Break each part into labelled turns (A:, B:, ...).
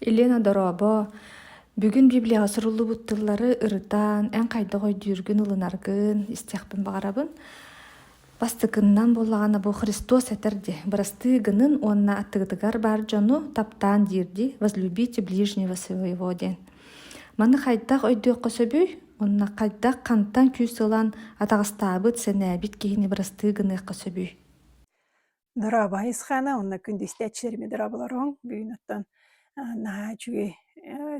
A: Елена дорообо! Бүгүн Библияҕа суруллубут тыллары ырытан, эн хайдах өйдүүргүн, ылынаргын истиэхпин баҕарабын. Бастакыннан буоллаҕына бу Христос этэр дии, «Бырастыы гынын уонна аттыгытыгар баар дьону таптаан» диир дии, «Возлюбите ближнего своего» диэн. Маны хайдах өйдүөххэ сөбүй? Уонна хайдах, хантан күүс ылан атаҕастаабыт, сэнээбит киһини бырастыы гыныахха сөбүй?
B: Дорообо Исхана уонна күн истээччилэрими дорооболоруҥ. Бүгүн оттон наһаа үчүгэй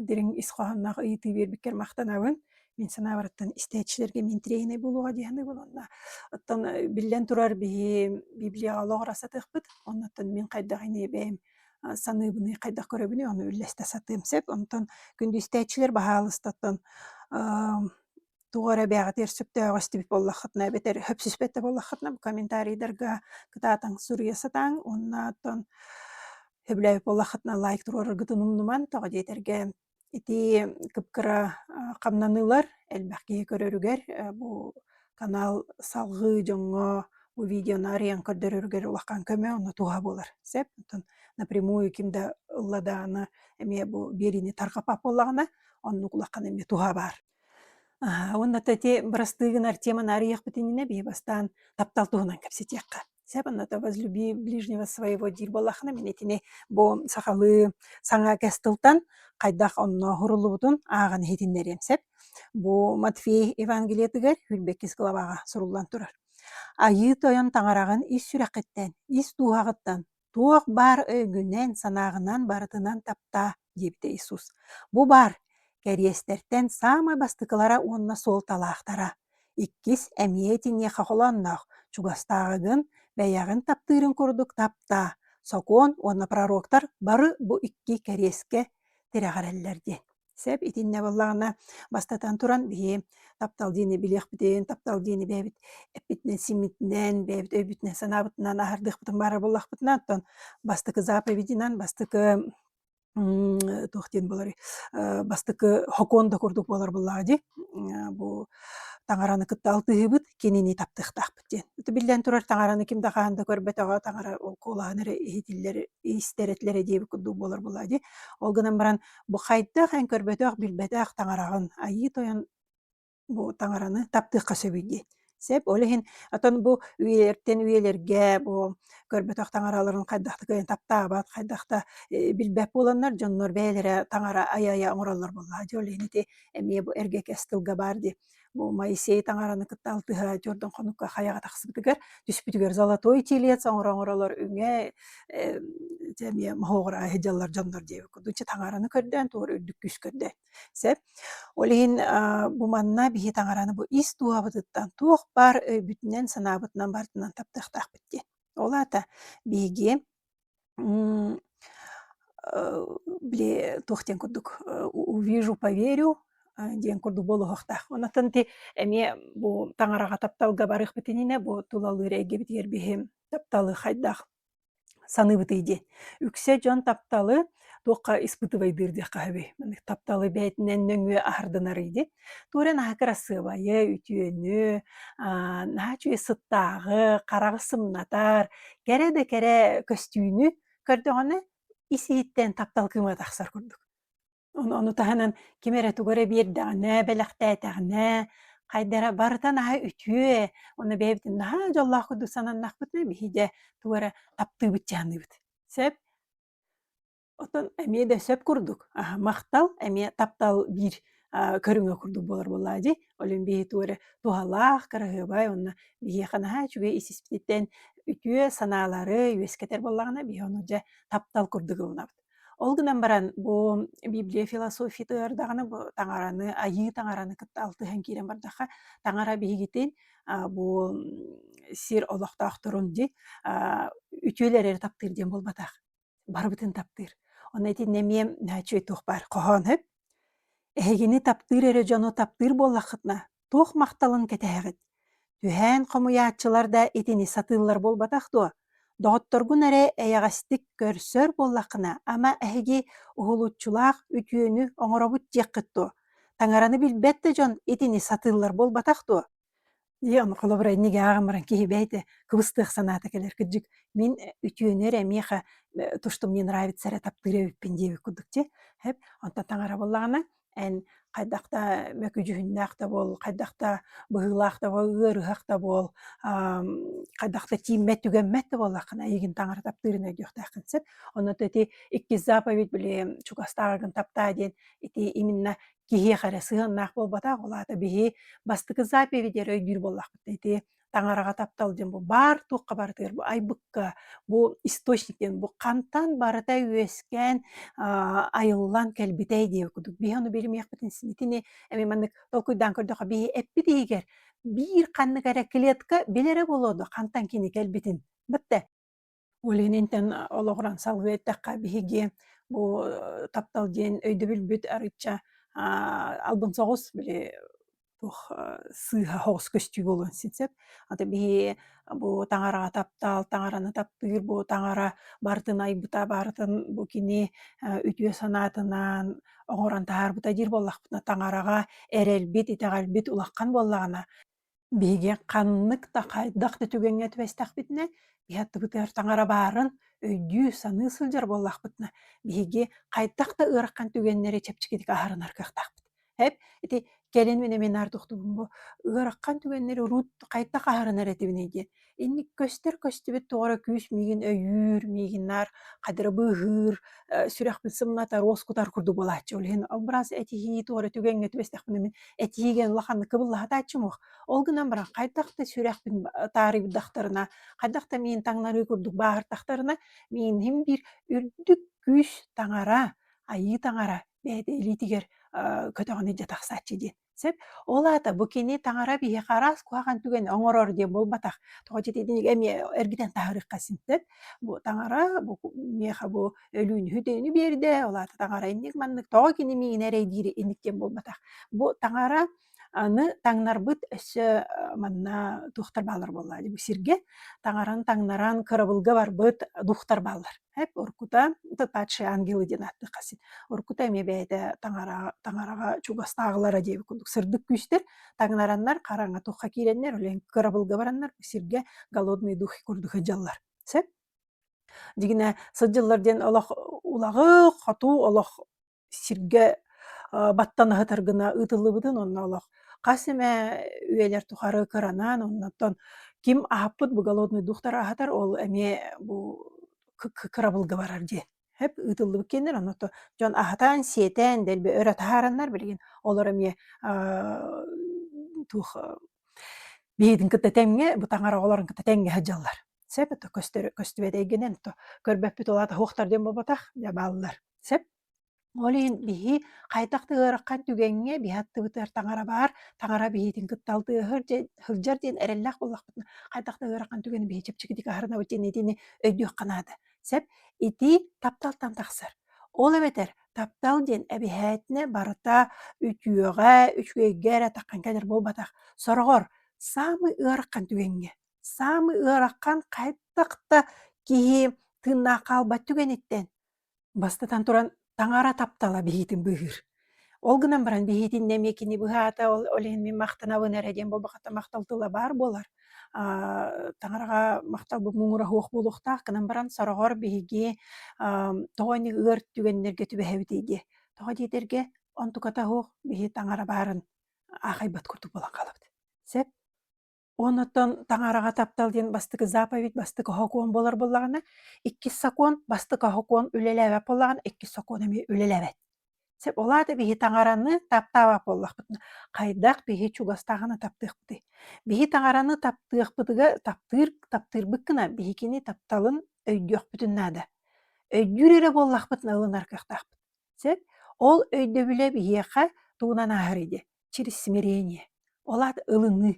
B: дириҥ ис хоһоонноох ыйытыы биэрбиккэр махтанабын. Мин санаабараттан истээччилэргэ мин тренер буолуоҕа диэһинэ буолунна. Оттон биллэн турар биһи Библияҕа олоҕура сатыахпыт. Оннуттан мин хайдах ини бэйэм саныыбыный, хайдах көрөбүнүй, ону үллэстэ сатыам сөп. Онтон күндү истээччилэр баһаалыста оттон тугу эрэ бэйэҕитигэр сөптөөҕү истибит буоллаххытына эбэтэр хөпсүспэт да буоллаххытына комментарийдарга кытаатаҥ суруйа сатааҥ уонна оттон сөбүлээбит буоллаххытына лайк туруораргытын умнумаҥ тоҕо диэтэргэ ити кыпкыра хамнаныылар элбэх киһи көрөрүгэр бу канал салҕыы дьоҥҥо бу видеоны арыйан көрдөрөрүгэр улахан көмө онно туһа буолар сөп оттон напрямую ким да ылладааны эмиэ бу биэриини тарҕаппат буоллаҕына оннук улахан эмиэ туһа баар Аһа, уонна то ити бырастыыгын Артема нарыйахпыт иннинэ бии бастаан таптал туһунан кэпсэтиэххэ. Сөп, онното возлюби ближнего своего диир буоллаххына, мин итини бу сахалыы саҥа кэс тылтан хайдах оннооһуруллубутун ааҕан иһитиннэриэм сөп. Бу Матфей Евангелиетыгар Хүрбэкис главаҕа суруллан турар. Айыы Тойон таҥараҕын ис сүрэххиттэн, ис дууһаҕыттан Туох баар өйгүнэн-санааҕынан барытынан таптаа, диэбитэ Иисус. Бу баар кэриэстэртэн саамай бастакылара уонна суолталаахтара. Иккис эмиэ итиниэхэ холоонноох. Чугастааҕыгын, бэйэҕин таптыырын курдук таптаа. Сокуон уонна пророктар бары бу икки кэриэскэ тирэҕирэллэр диэн. Сэп итиннэ буоллаҕына, бастатан туран, биһи таптал диэни билиэхпитин, таптал диэни бэйэбит эппитинэн, симмитинэн, бэйэбит өйбүтүнэн, санаабытынан аһардыахпытын баара буоллахпытына, оттон бастакы заповединан бастакы м, туох диэн буоларый, э, бастакы хокуон да курдук буолар буоллаҕа дии, э, бу таҥараны кытта алтыһыыбыт, кинини таптыахтаахпыт. диэн. Биллэн турар, таҥараны ким да хаһан да көрбөтөҕө, таҥара ол куолаһын эрэ иһитиллэр, иистэр-этилэрэ диэбит курдук буолар буолаа дии. Ол гынан баран, бу хайдах эн көрбөтөх, билбэтэх таҥараҕын Айыы Тойон бу таҥараны таптыахха сөбүй дии. Сөп, ол иһин оттон бу үйэлэртэн үйэлэргэ бу көрбөтөх таҥараларын хайдах да кыайан таптаабат, хайдах да э, билбэт буоланнар, дьоннор бэйэлэрэ таҥара aya-aya оҥороллор буоллаха дии. Ол иһин ити эмиэ бу эргэ кэс тылга баар дии. Бу Моисей таҥараны кытта алтыһа Жордон хонукка хайаҕа тахсыбытыгар түспүтүгэр золотой телец оҥороҥоролор үҥэ дьэ эмиэ моһоҕора аһыдьаллар дьоннор диэбит курдук дьэ таҥараны көрдөөн туора үрдүк күүс көрдө. Сөп. Ол иһин бу манна биһи таҥараны бу ис дууһабытыттан туох баар өйбүтүнэн санаабытынан барытынан таптыахтаахпыт диэн. Ол аата биһиги Били туох диэн курдук увижу поверю диэн курдук буолуохтаах. Онон ти эмиэ бу таҥараҕа тапталга барыахпыт иннинэ бу тулалыыр эйгэбитигэр биһи тапталы хайдах саныыбытый диэн. Үксэ дьон тапталы туохха испытывайдыыр диэххэ сөбүй маннык тапталы бэйэтинэн нөҥүө аһарданарый дит туорен аһы кырасыабайы үтүөнү аа наһаа үчүгэй сыттааҕы хараҕы сымнатар кэрэ да кэрэ көстүүнү көрдөҕүнэ ис-иһиттэн таптал кыыма тахсар курдук ону ону таһынан ким эрэ тугу эрэ биэрдэҕинэ бэлэхтээтэҕинэ хайдара барыта наһаа үтүө уонна бэйэбитин наһаа дьоллоох курдук сананнахпытына биһи дьэ тугу эрэ таптыыбыт чаһыныыбыт сөп Оттон эмиэ да сөп курдук, аһ махтал, эмиэ таптал биир, а, көрүҥэ курдук буолар буоллаҕа дии. Олүн биһиэхэ эрэ туһалаах, кыраһыабай уонна биһиэхэ наһаа үчүгэй ис-испититтэн үтүө санаалары үөскэтэр буоллаҕына, биһиэхэ ону дьэ таптал курдук ылынабыт. Ол гынан баран бу библия философиятыгар даҕаны бу таҥараны, айыы таҥараны кытта алтыһан киирэн бардахха, таҥара биһигитин бу сир олохтоохторун ди үтүөл эрери таптыыр диэн буолбатах барыбытын таптыыр онно итиннэ эмиэ үчүгэй туох баар хоһоон өп эһигини таптыыр эрэ дьону таптыыр буоллаххытына туох махталын кэтэһэҕит түһээн хомуйааччылар да итини сатыыллар буолбатах дуо Доҕотторгун эрэ эйэҕэстик көрсөр буоллаххына, ама эһиги уһулуччулаах үтүөнү оҥоробут диэххит дуо? Таҥараны билбэт да дьон итини сатыыллар буолбатах дуо? Дьэ, ону холобурайник ааҕан баран киһи бэйэтэ кыбыстыах санаата кэлэр. Кырдьык, мин э, үтүөнү эрэ миэхэ э, то, что мне нравится, эрэ таптыыр эбиппин диэбит курдук, дьэ, эп, онтон таҥара буоллаҕына, эн хайдах да мөкүдьүһүннээх да буол, хайдах да быһыылаах да буол, ыарыһах да буол, хайдах да тииммэт, түгэммэт да буоллаххына, эйигин таҥара таптыырын өйдүөхтээххин сөп. Онно то ити иккис заповедь били чугастааҕыгын таптаа диэн ити именно киһиэхэ эрэ сыһыаннаах буолбатах, ол аата биһи бастакы заповеди эрэ өйдүүр буоллахпыт ити таҥараҕа таптал диэн бу баар туохха барытыгар бу айбыкка бу источник диэн бу хантан барыта үөскээн айыллан кэлбитэй диэ кудук биһ билимиэхпитин итини эми маннык толкуйдаан көрдөхө биһи эппит иһигэр биир ханнык эрэ клетка билэрэ болуодо хантан кини кэлбитин бытте Ольгин интэн олоҕуран салҕыы эттэххэ, биһиги бу таптал диэн өйдөбүлбүт арычча аа албын соҕус били туох сыыһа соҕус көстүү буолуон син сөп. Аты биһи бу таҥараҕа таптал, таҥараны таптыыр бу таҥара барытын айбыта, барытын бу кини үтүө санаатынан оҥорон таһаарбыта диир буоллахпытына, таҥараҕа эрэлбит, итэҕэлбит улахан буоллаҕына Биһиги ханнык да хайдах да түгэҥҥэ түбэстэхпитинэ, иһаттыбытыгар таҥара баарын өйдүү-саныы сылдьар буоллахпытына, биһиги хайдах да ыарахан түгэннэри чэпчэкитик аһарынар кыахтаахпыт. Эп ити кэлин эмиэ наминаары тохтубун бу ыарахан түгэннэри урут хайдах аһарынар этибиний диэн Инник көстөр-көстүбүт тоҕо эрэ күүс миигин өйүүр, миигин наар хадырыбы ыһыыр, э, сүрэхпин сымната, руос кутар курдук буолааччы. Ол иһин албырас этиһии тоҕо эрэ түгэҥҥэ түбэстэхпинэ мин этиигэ улаханнык кыбыллаһатааччым уох. Ол гынан баран хайдах да сүрэхпин таарыйдахтарына, хайдах да миин таҥнарыы курдук бааһыртахтарына, мииним биир үрдүк күүс таҥара, айыы таҥара бэйэтэ илиитигэр э, көтөҕөн илдьэ тахсааччы диэн. Сөп. Ол аата бу кини таҥара биһиэхэ араас куһаҕан түгэни оҥорор диэн буолбатах. Тоҕо диэтэр итинник эмиэ эргитэн таһаарыахха син сөп. Бу таҥара бу миэхэ бу өлүүнү хүдэйини биэрдэ, ол аата таҥара инник-маннык тоҕо кини миигин эрэй диири инник диэн буолбатах. Бу таҥара аны таҥнарбыт өссө э, манна духтар бааллар буоллаа дии. Бу сиргэ таҥараны таҥнаран кырабылга барбыт духтар бааллар. Эп оркута ытытааччы ангелы диэн ааттыахха син. Оркута эмиэ бэйэтэ таҥараҕа таҥараҕа чугастааҕылара диэбит курдук сырдык күүстэр таҥнараннар хараҥа туохха киирэннэр олень кырабылга бараннар сиргэ голодные духи курдук сылдьаллар. Сөп? Дигинэ сылдьыллар диэн олох улаҕы хотуу олох сиргэ баттан аһытаргына ыытыллыбытын онно олох хас эмэ үйэлэр тухары кыранан оннуттан ким аһаппыт бу голодный дуhtары аһатар ол эмиэ бу кырабылга барар диэн эп ыытыллыбыт киэннэр оннотто дьон аһатаан сиэтэн дэлби өрө таһаараннар билигин олор эмиэ туох биһигитин кытта тэҥҥэ бу таҥара оҕолорун кытта тэҥҥэ сылдьаллар Сэп это көстөрө көстүбэт эйгинэн то көрбөппүт улаата хуохтар диэн буолбатах дьэ бааллар. Сэп ол иһин биһи хайдах да ыараххан түгэҥҥэ биһи аттыбытыгар таҥара баар, таҥара биһитин кытта алтыһар дьэ сылдьар диэн эрэллээх буоллахпытына хайдах да ыарахан түгэни биһи чэпчэкитик аһарынабыт диэн итини өйдүөххэ наада. Сэп ити тапталтан тахсар. Ол эбэтэр таптал диэн эбиһээтинэ барыта үтүөҕэ, үчүгэйгэ эрэ таххан кэлэр буолбатах. Сороҕор самый ыарахан түгэҥҥэ Саамы ыарахан хайдах да киһи тыыннаах хаалбат түгэниттэн бастатан туран таҥара таптала биһиитин быыһыыр. Ол гынан баран биһиитиннэ эмиэ кини быһаата ол ол иһин мин махтанабын эрэ диэн буолбахата махтал тыла баар буолар. Аа таҥараҕа махталбыт муҥура суох буолуохтаах гынан баран сороҕор биһиги ам тоҕо инник ыар түгэннэргэ түбэһэбитий диэ. Тоҕо диэтэргэ онтуката суох биһи таҥара баарын аахайбат курдук буолан хаалабыт. Сөп? Уон оттон таҥараҕа таптал диэн бастакы заповедь, бастакы сокуон буолар буоллаҕына, иккис сокуон бастакы сокуон үлэлээбэт буоллаҕына, иккис сокуон эмиэ үлэлээбэт. Сөп, ол аата биһи таҥараны таптаабат буоллахпытына, хайдах биһи чугастааҕына таптыахпытый? Биһи таҥараны таптыахпытыгар таптыыр таптыырбыт гына биһикини тапталын өйдүөхпүтүн наада. Өйдүүр эрэ буоллахпытына ылынар кыахтаахпыт. Сөп, ол өйдөбүлэ биһиэхэ тугунан ааһар идэ? Через смирение. Ол аата ылыныы.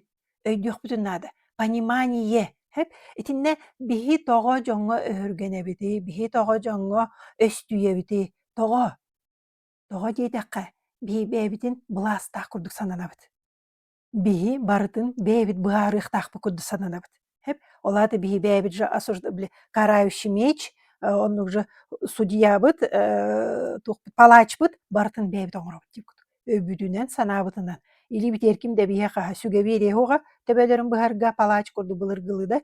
B: Өйдүөхпүтүн наада. Понимание. Хэп? Итиннэ биһи тоҕо дьоҥҥо өһүргэнэбитий, биһи тоҕо дьоҥҥо өстүйэбитий? Тоҕо? Тоҕо диэтэххэ, биһи бэйэбитин былаастаах курдук сананабыт. Биһи барытын бэйэбит быһаарыахтаахпыт курдук сананабыт. Хэп ол аата биһи бэйэбит же осуждабли карающий меч оннук же судьябыт э туохпут палаачпыт барытын бэйэбит оҥоробут дии кутук. Өйбүтүнэн, санаабытынан или битиэр ким да биһиэхэ сүгэбиэриэһуга төбөлөрүн быһарга палаач курдук былыргылыда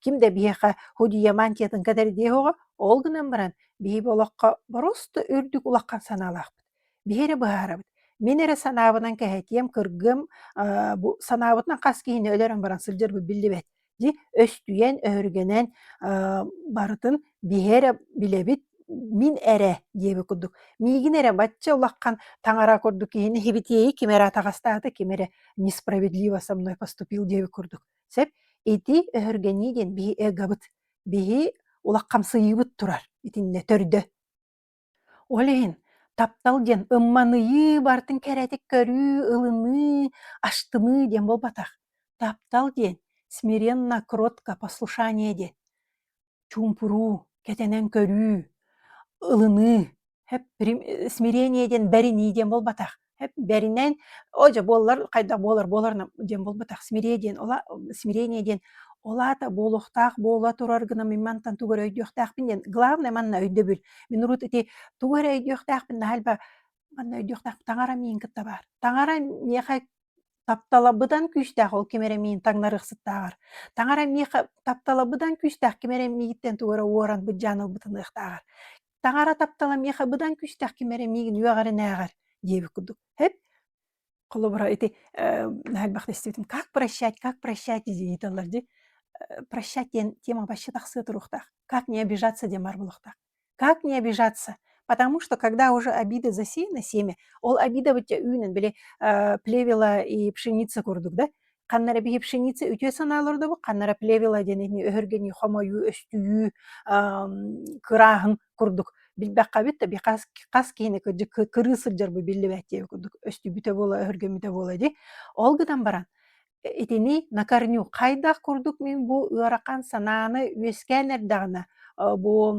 B: ким да биһиэхэ худия мантиятын кэтэрдиэһуга ол гынан баран биһи олоххо борусто үрдүк улахан санаалаахпыт. Биһи эрэ быһаарабыт. Мин эрэ санаабынан кэһэтиэм, кыргыам, аа, бу санаабытынан хас киһини өлөрөн баран сылдьарбыт биллибэт. Дьи, өстүйэн, өһүргэнэн, аа, барытын биһи эрэ билэбит, мин эрэ диэбит курдук. Миигин эрэ бачча улахан таҥара курдук киһини һибитиэйи ким эрэ атаҕастаата, ким эрэ несправедливо со мной поступил диэбит курдук. Сөп? Ити өһүргэнии диэн биһи эгобыт. Биһи улахамсыйыыбыт турар итиннэ төрдө. Ол иһин таптал диэн ымманыйыы, барытын кэрэтик көрүү, ылыныы, астыныы диэн буолбатах. Таптал диэн смиренно, кротко послушание диэн. Чуумпуруу, кэтэнэн көрүү, ылыныы, хэп прим смирение диэн бэринии диэн буолбатах. бэринэн о дьэ буоллар хайдах буолар буоларна диэн буолбатах смирение диэн ола смирение диэн олаата буолуохтаах буола турар гына мин мантан тугу эрэ өйдүөхтээхпин диэн главное манна өйдөбүл мин урут ити тугу эрэ өйдүөхтээхпин наһальба манна өйдүөхтээхпин таҥара миин кытта баар таҥара миэхэ тапталабыдан күүстээх ол ким эрэ миин таҥнарыахсыттааҕар таҥара миэхэ тапталабыдан күүстээх ким эрэ мииттэн тугу эрэ уоран быдьаан ылбытыныахтааҕар Таҥара таптала миэхэ быдан күүстээх, ким эрэ миигин үөҕэринээҕэр диэбит курдук. Эп, холобура ити э, элбэхтэ истибитим, как прощать, как прощать дии тыллар дии. Э, прощать диэн тема вообще тахсыы туруохтаах. Как не обижаться диэн бар буолуохтаах. Как не обижаться? Потому что когда уже обида засеяна семя, ол обида бытя үүнэн, били э, плевела и пшеница курдук, да, ханна эрэ биһи пшеница үтүө санаалар олордобут ханнара плевела диэн ини өһүргэнии хомойуу өстүйүү кырааһын курдук билбэххэ бит да би хас хас киһини кырдьык кырыы сылдьарбы биллибэт диэби курдук өстүбүтэ буола өһүргэммитэ буола ди ол гынан баран итини на корню хайдах курдук мин бу ыарахан санааны үөскээн эрдэҕинэ бу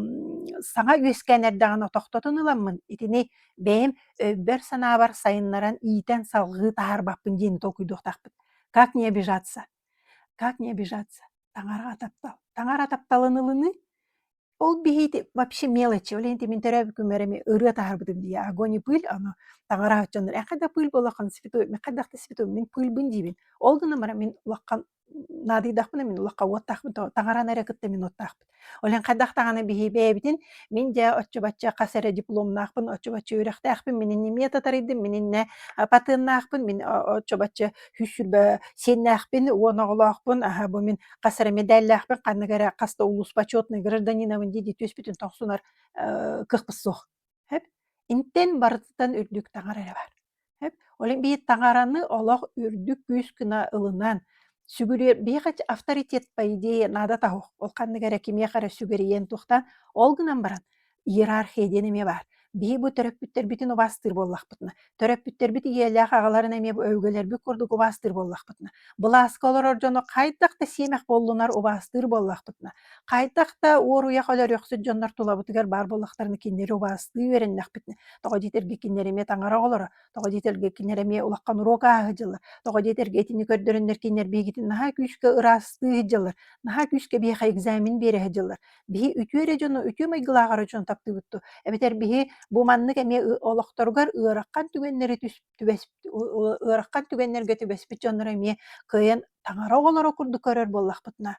B: саҥа үөскээн эрдэҕинэ тохтотон ыламмын итини бэйэм өйбөр-санаабар сайыннаран иитэн салҕыы таһаарбаппын диэн толкуйдуохтаахпыт. Как не обижаться? Как не обижаться? Таҥара таптал. Таҥара тапталын ылыныы ол биһиити вообще мелочи. Ол иһин мин төрөөбүт күммэр эми ырыа таһаарбытым дии. Огонь и пыль, аны таҥара отчоннор. Э хайда пыль буоллаххын, святой, хайдах да святой, мин пыльбын диибин. Ол гынан баран мин улахан наадыйдахпына мин улахха уоттаахпын то таҥараны эрэ кытта мин уоттаахпын. Ол иһин хайдах даҕаны биһиибэйэбитин мин дьэ оччо-бачча хас эрэ дипломнаахпын, оччо-бачча үөрэхтээхпин, мин иннемиэ татарыйдым, мин иннэ патеннаахпын, мин оччо-бачча үс сүүрбэ сиэннээхпин уон оҕолоохпун, аһа бу мин хас эрэ мэдээллээхпин ханнык эрэ хас да улууспа отчетнай гражданинабын дии-дии түөспүтүн тохсунар кыахпыт суох. Сөп? Интэн барытыттан үрдүк таҥар эрэ баар. Сөп? Олен бии таҥараны олох үрдүк күүс гына ылынан, сүгүрүйэр биһиэхэ авторитет по идее наада таһуох. Ол ханнык эрэ кимиэхэ эрэ сүгэрийэн туохтаан, ол гынан баран иерархия диэн эмиэ баар. Биһи бу төрөппүттэрбитин убаастыыр буоллахпытына Төрөппүттэрбит ийэлээх аҕаларын эмиэ бу өбүгэлэрбит курдук убаастыыр буоллахпытына, былааска олорор дьону хайдах да сиэмэх буоллунар убаастыыр буоллахпытына, хайдах да уоруйах өлөрүөхсүт дьоннор тулабытыгар баар буоллахтарына кинилэри убаастыы үөрэннэхпитинэ, тоҕо диэтэргэ кинилэр эмиэ таҥара оҕолоро, тоҕо диэтэргэ кинилэр эмиэ улахан уруок ааһа сылдьаллар, тоҕо диэтэргэ итини көрдөрөннөр кинилэр биһигитин наһаа күүскэ ыраастыы сылдьаллар, наһаа күүскэ биһиэхэ экзамен биэрэ сылдьаллар. Биһи үтүө эрэ дьону, үтүө майгылааҕар дьону таптыыбыт дуо? Эбэтэр биһи бу маннык эмиэ олохторугар ыарахан түгэннэри түс түбэс ыарахан түгэннэргэ түбэспит дьоннору эмиэ кыайан таҥара оҕолоро курдук көрөр буоллахпытына,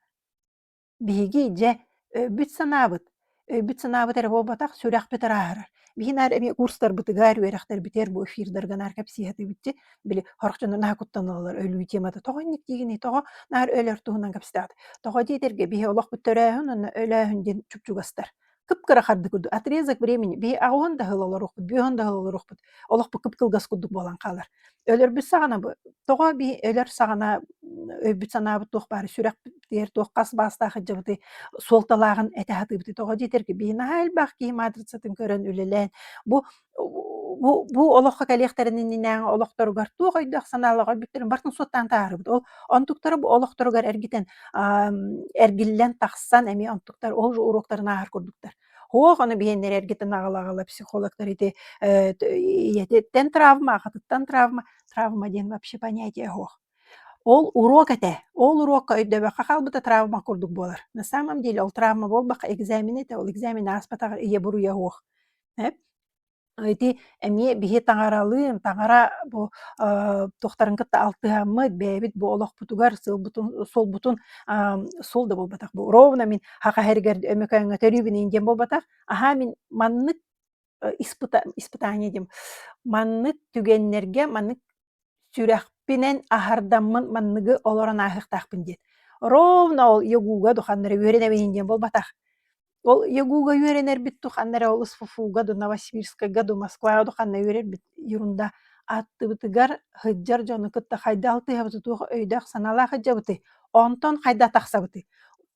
B: биһиги дьэ өйбүт-санаабыт өйбүт-санаабыт эрэ буолбатах, сүрэхпит ырааһырар. Биһи наар эмиэ курстарбытыгар, үөрэхтэрбитигэр бу эфирдарга наар кэпсиир этибитти, били хорох дьону наһаа куттаналлар өлүү темата тоҕо инник диигиний, тоҕо наар өлөр туһунан кэпсэтэҕит. Тоҕо диэтэргэ биһи олох бүт төрөөһүн уонна өлөөһүн диэн чупчугастар. Кып-кыра хардык курдук отрезок времени биһи аҕыһын да ыла олоруохпут, бүөһүн да ыла олоруохпут, олохпут кып-кылгас курдук буолан хаалар. Өлөрбүт саҕана бу тоҕо бии өлөр саҕана өйбүт санаабыт туох баары сүрэхпитигэр туох хас баастаах сылдьыбытый суолталааҕын этэ сатыыбытый тоҕо диэтэр ки бии наһаа элбэх киһи матрицатын көрөн үлэлээн бу бу бу олоххо кэлиэхтэрин иннинээҕи олохторугар туох өйдөөх санаалаах өлбүттэрин бартын суоттаан таарыбыт ол онтуктара бу олохторугар эргитэн эргиллэн тахсан эмиэ онтуктар ол же уруоктарын ааһар курдуктар Оһ, ону биһиэннэр эргитин аҕала-аҕала психологтар ити, э, ийэтиттэн травма, аҕатыттан травма, травма диэн вообще понятие оһ. Ол уруок этэ, ол уруокка өйдөбөххө хаалбыта травма курдук буолар. На самом деле ол травма буолбахха экзамен этэ, ол экзамен ааспатаҕар ийэ буруйа оһ, эп Ити эмиэ биһи таҥаралыын, таҥара бу, э, туохтарын кытта алтыһаммыт, бэйэбит бу олохпутугар сылбытын суолбутун, ам, суол да буолбатах бу. Ровно мин һаха һэригэр Өмөкөөҥҥө төрүүбүнээн диэн буолбатах. Аһаа мин маннык, э, испыта испытание дием, маннык түгэннэргэ, маннык Сүрэхпинэн аһардаммын манныгы олорон ааһыахтаахпын диэн. Ровно ол ягуга духаннара үөрэнэбин диэн буолбатах. Ол ягуга үөрэнэрбит духаннара ол СФФУ-га до Новосибирскайга до Москваҕа духаннара үөрэрбит ерунда ааттыбытыгар сылдьар дьону кытта хайдах алтыһабытый, туох өйдөөх-санаалаах сылдьабытый, онтон хайдах тахсабытый,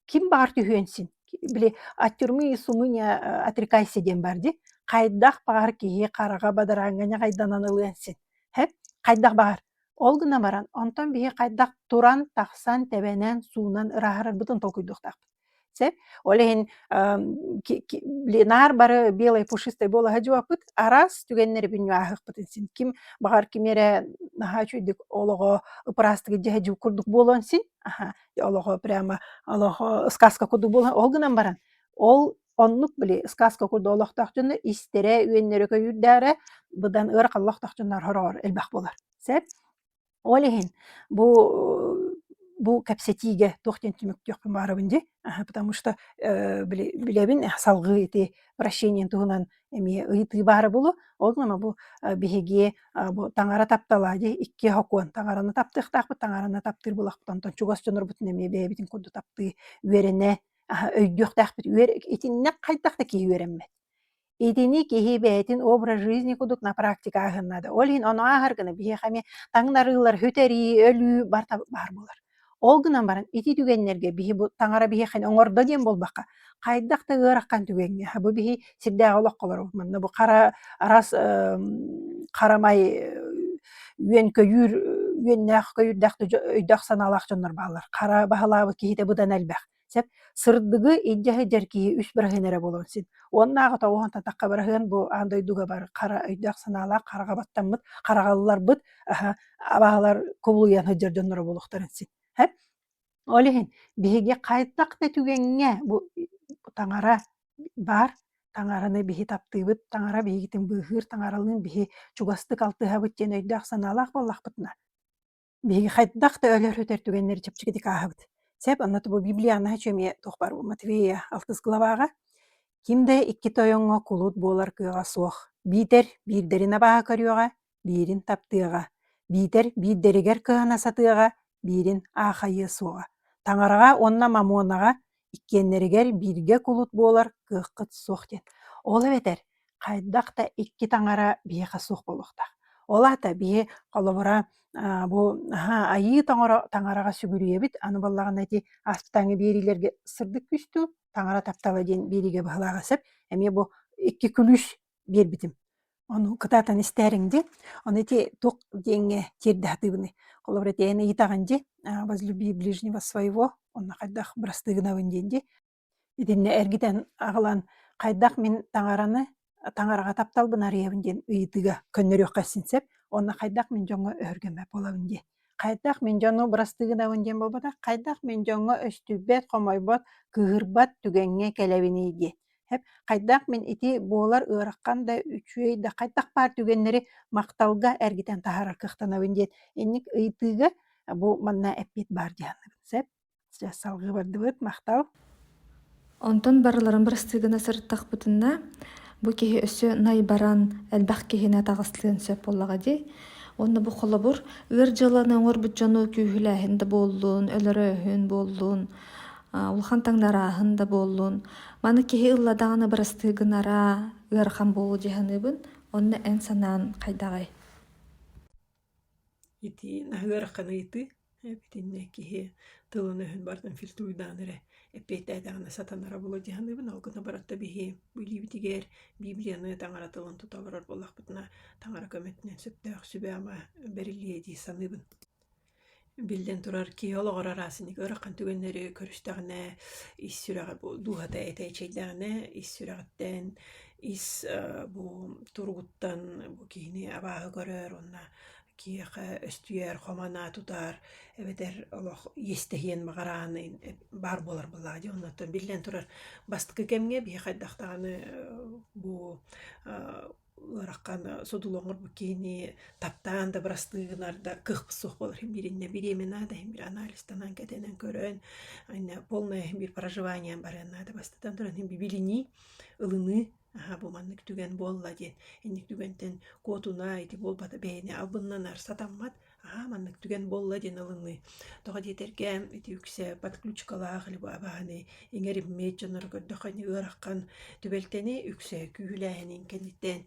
B: ким баҕар түһүөн син. Били от тюрьмы и сумы не отрекайся диэн баар дии. Хайдах баҕар киһи хараҕа бадарааҥҥа ньаҕайданан ылыан син. Һэт, хайдах баҕар, ол гына баран, онтон биһи хайдах туран, тахсан, тэбэнэн, суунан ырааһырарбытын толкуйдуохтаахпыт. Сөп? Ол иһин Ленар бары белай пушистай буолаһа дьуаппыт, араас түгэннэри бүнньү-ааһыахпытын син. Ким, баҕар, кими эрэ наһаа үчүгэйдик олоҕо ыпыраастык дьэһэдьиу курдук буолуон син, аһа, олоҕо прямо, олоҕо сказка курдук буолуон, ол гынан баран, ол Оннук били сказка курдук олохтоох дьоно истэрэ, үөннэрэ көйүүрдээрэ быдан ыарахан олохтоох дьоннор хороҕор элбэх буолар. Сөп? Ол иһин бу бу кэпсэтиигэ туох диэн түмүктүөхпүн баарабын дии. Потому что э, били билэбин э, салгыы ити прощением туһунан эмиэ ыйытыы баара булу. Ол гына бу э, биһиги бу таҥара таптала дии икки хокуон таҥараны таптыахтаахпыт таҥараны таптыыр булахпытын онтон чугас дьонорбутун эмиэ бэйэбитин курдук таптыы үөрэнэ өйдүөхтээхпит үөр итиннэк хайдах да киһи үөрэммэт итини киһи бэйэтин образ жизни кудук на практика аһыннада ол иһин ону ааһар гына биһиэхэ эмиэ таҥнарыылар үтэрии өлүү барта баар болор ол гынан баран ити түгэннэргэ биһи бу таҥара биһиэхэ оҥордо диэн буолбакка хайдах да ыараххан түгэҥҥэ бу биһи сирдээҕи олоххолору манна бу хара арас харамай үөн-көйүүр үөннээх көйүүрдээх өйдөөх санаалаах дьоннор бааллар хара баһылаабыт киһитэ быдан элбэх сөп сырдыгы илдьэ сылдьар киһи үс быраһын эрэ буолуон син оннааҕы тоҕуһан татахха быраһыан бу аан дойдуга бар хара өйдөөх санаалаах хараҕа баттаммыт хараҕалларбыт аһа абаһалар кубулуйан сылдьар дьонноро буолуохтарын син Ол иһин биһиги хайдах да түгэҥҥэ бу таҥара баар, таҥараны биһи таптыыбыт, таҥара биһигитин быыһыыр, таҥаралыын биһи чугастык алтыһабыт диэн өйдөөх-санаалаах буоллахпытына, биһиги хайдах да өлөр-сүтэр түгэннэри чэпчэкитик ааһабыт. Сөп, онно бу библианы еще эмиэ туох баар Матвея алтыс главаҕа ким да икки тойоҥҥо кулут буолар кыаҕа суох. Биитэр биирдэрин абааһы көрүөҕэ, биирин таптыаҕа, биитэр биирдэригэр кыһана сатыаҕа, биирин аахайыа суоҕа. Таҥараҕа уонна мамонаҕа иккиэннэригэр бииргэ кулут буолар кыаххыт суох диэн. Ол эбэтэр хайдах да икки таҥара биһиэхэ суох буолуохтаах. Ол аата биһи холобура бу айыы таҥара таҥараҕа сүгүрүйэбит, аны буоллаҕына ити ааспытааҥҥы биэриилэргэ сырдык күстүү, таҥара таптала диэн биэриигэ быһалааҕа сөп. Эмиэ бу икки күлүүс биэрбитим. Ону кытаатан истээриҥ дии. Ону ити туох диэҥҥэ тиэрдэ сатыыбыный? Холобура ити эн ыйытаҕын дии. «А возлюби ближнего своего» уонна «Хайдах бырастыы гынабын?» диэн дии. Итиннэ эргитэн аҕалан «Хайдах мин таҥараны таҥараҕа тапталбын арыйабын?» диэн ыйытыыга көннөрүөххэ син сөп. Уонна «Хайдах мин дьоҥҥо өһүргэммэт буолабын?» диэн. Хайдах мин дьону бырастыгынабын диэн буолбатах, хайдах мин дьоҥҥо өстүйбэт, хомойбот, кыыһырбат түгэҥҥэ кэлэбиний диэн. Хэп хайдах мин ити буолар ыараххан да үчүгэй да хайдах баар түгэннэри махталга эргитэн таһаарар кыахтанабын диэн инник ыйытыыга бу манна эппиэт баар дии саныыбын. Сөп? Дьэ, салгыы бардыбыт, махтал.
A: Онтон барыларын бырастыыгына сырыттахпытынна, бу киһи өссө най баран, элбэх киһини атаҕастыан сөп буоллаҕа дии. Уонна бу холобур ыар дьыаланы оҥорбут дьону күүһүлээһин да буоллун, өлөрөөһүн буоллун, улахан таҥнарааһын да буоллун. Маны киһи ылла даҕаны бырастыыгынара ыарахан буолуо дии саныыбын. Онно эн санаан хайдаҕый?
B: Итиин аһыгар ханыйыы эбитиннэ киһи тылын-өһүн барытын фильтруйдаан эрэ эппиэттээтэҕинэ сатанара буолуо дии саныыбын. Ол гына баран да биһи билиибитигэр Библияныы таҥара тылын тута олорор буоллахпытына, таҥара көмөтүнэн сөптөөх сүбэ-ама бэриллиэ дии саныыбын. Биллэн турар, киһи олоҕор араасынньык ыарахан түгэннэри көрүстэҕинэ, ис сүрэҕэ бу дууһата этэчэйдэҕинэ, ис сүрэҕиттэн, ис э, бу туругуттан бу киһини абааһы көрөр уонна киһиэхэ өстүйэр, хоманаа тутар эбэтэр олох иэстэһиэн баҕараан баар буолар былаа дии. Оннуттан биллэн турар бастакы кэмҥэ биһи хайдах даҕаны э, бу э, Ыараххан содулоҥорбут киһини таптаан дабырастыы гынарда кыахпыт суох буолар иһин биириннэ бириэминээнэ иһин биир анализтанан кэтэнэн көрөн ынна полное иһин биир проживанием барыан наада бастатан туран иһин бибилинии ылыныы аһа бу маннык түгэн буолла диэн инник түгэнтэн куотуна ити буолбата бэйэни албыннанар сатаммат Аа, маннык түгэн буолла диэн ылыныы. Тоҕо диэтэргэ ити үксэ подключкалаах бааһынай иҥэриммиэт дьоннору көрдөххө ыараххан түбэлтэни үксэ күүһүлээһинин кэнниттэн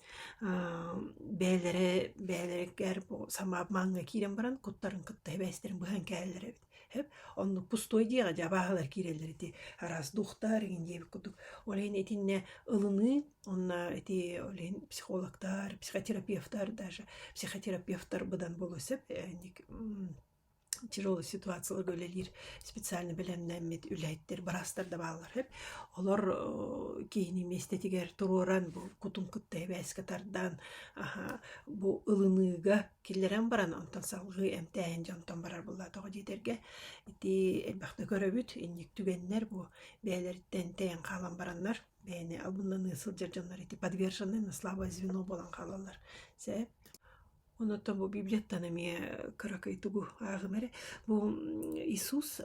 B: бэйэлэрэ бэйэлэригэр сама мааҥҥа киирэн баран куттарын кытта сибээстэрин быһан кэлэллэр эбит. Оннук пустой диэҕэ дьэ абааһылар киирэллэр ити араас дуухтар иҥин диэбит курдук. Ол иһин итиннэ ылыныы онно ити ол иһин психологтар, психотерапевтар даже психотерапевтар быдан буолуо сөп тяжелая ситуацияларга үлэлиир специально бэлэмнэммит үлэһиттэр быраастар да бааллар үһү. Олор киһини миэстэтигэр туруоран бу кутун кытта эбээскэ тардаан бу ылыныыга Киллэрэн баран онтон салгыы эмтээһин дьонтон барар былаатаҕа диэтэргэ ити элбэхтэ көрөбүт инник түгэннэр бу бэйэлэриттэн тэйэн хаалан бараннар бэйэни абыннаныы сылдьар дьоннор ити подвержены на слабое звено буолан хаалаллар сээп онуттан бу библияттан эмиэ кыракый тугу ааҕым эрэ бу Иисус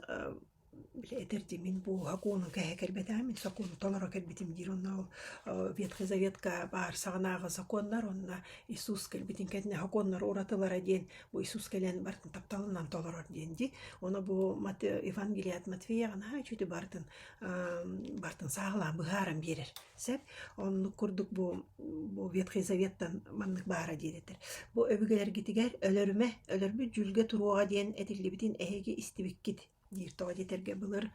B: Били этэр дьиҥмин буоһа кууну кэһэ кэлбэтэ, мин сокуону толоро кэлбитим диир уонна ол Ветхай Заветка баар саҕанааҕы сокуоннар уонна Иисус кэлбитин кэннэ сокуоннар уратылара диэн бу Иисус кэлэн барытын тапталынан толорор диэн дии. Ону бу Евангелие от Матфея наһаа үчүгэй барытын барытын сааһылаан быһааран биэрэр. Сөп. Оннук курдук бу, бу Ветхий Заветтан маннык баара диэн этэр. Бу өбүгэлэргитигэр өлөрүмэ, өлөрбүт дьүүлгэ туруоҕа диэн этиллибитин эһиги истибиккит диир тоҕо диэтэргэ былыр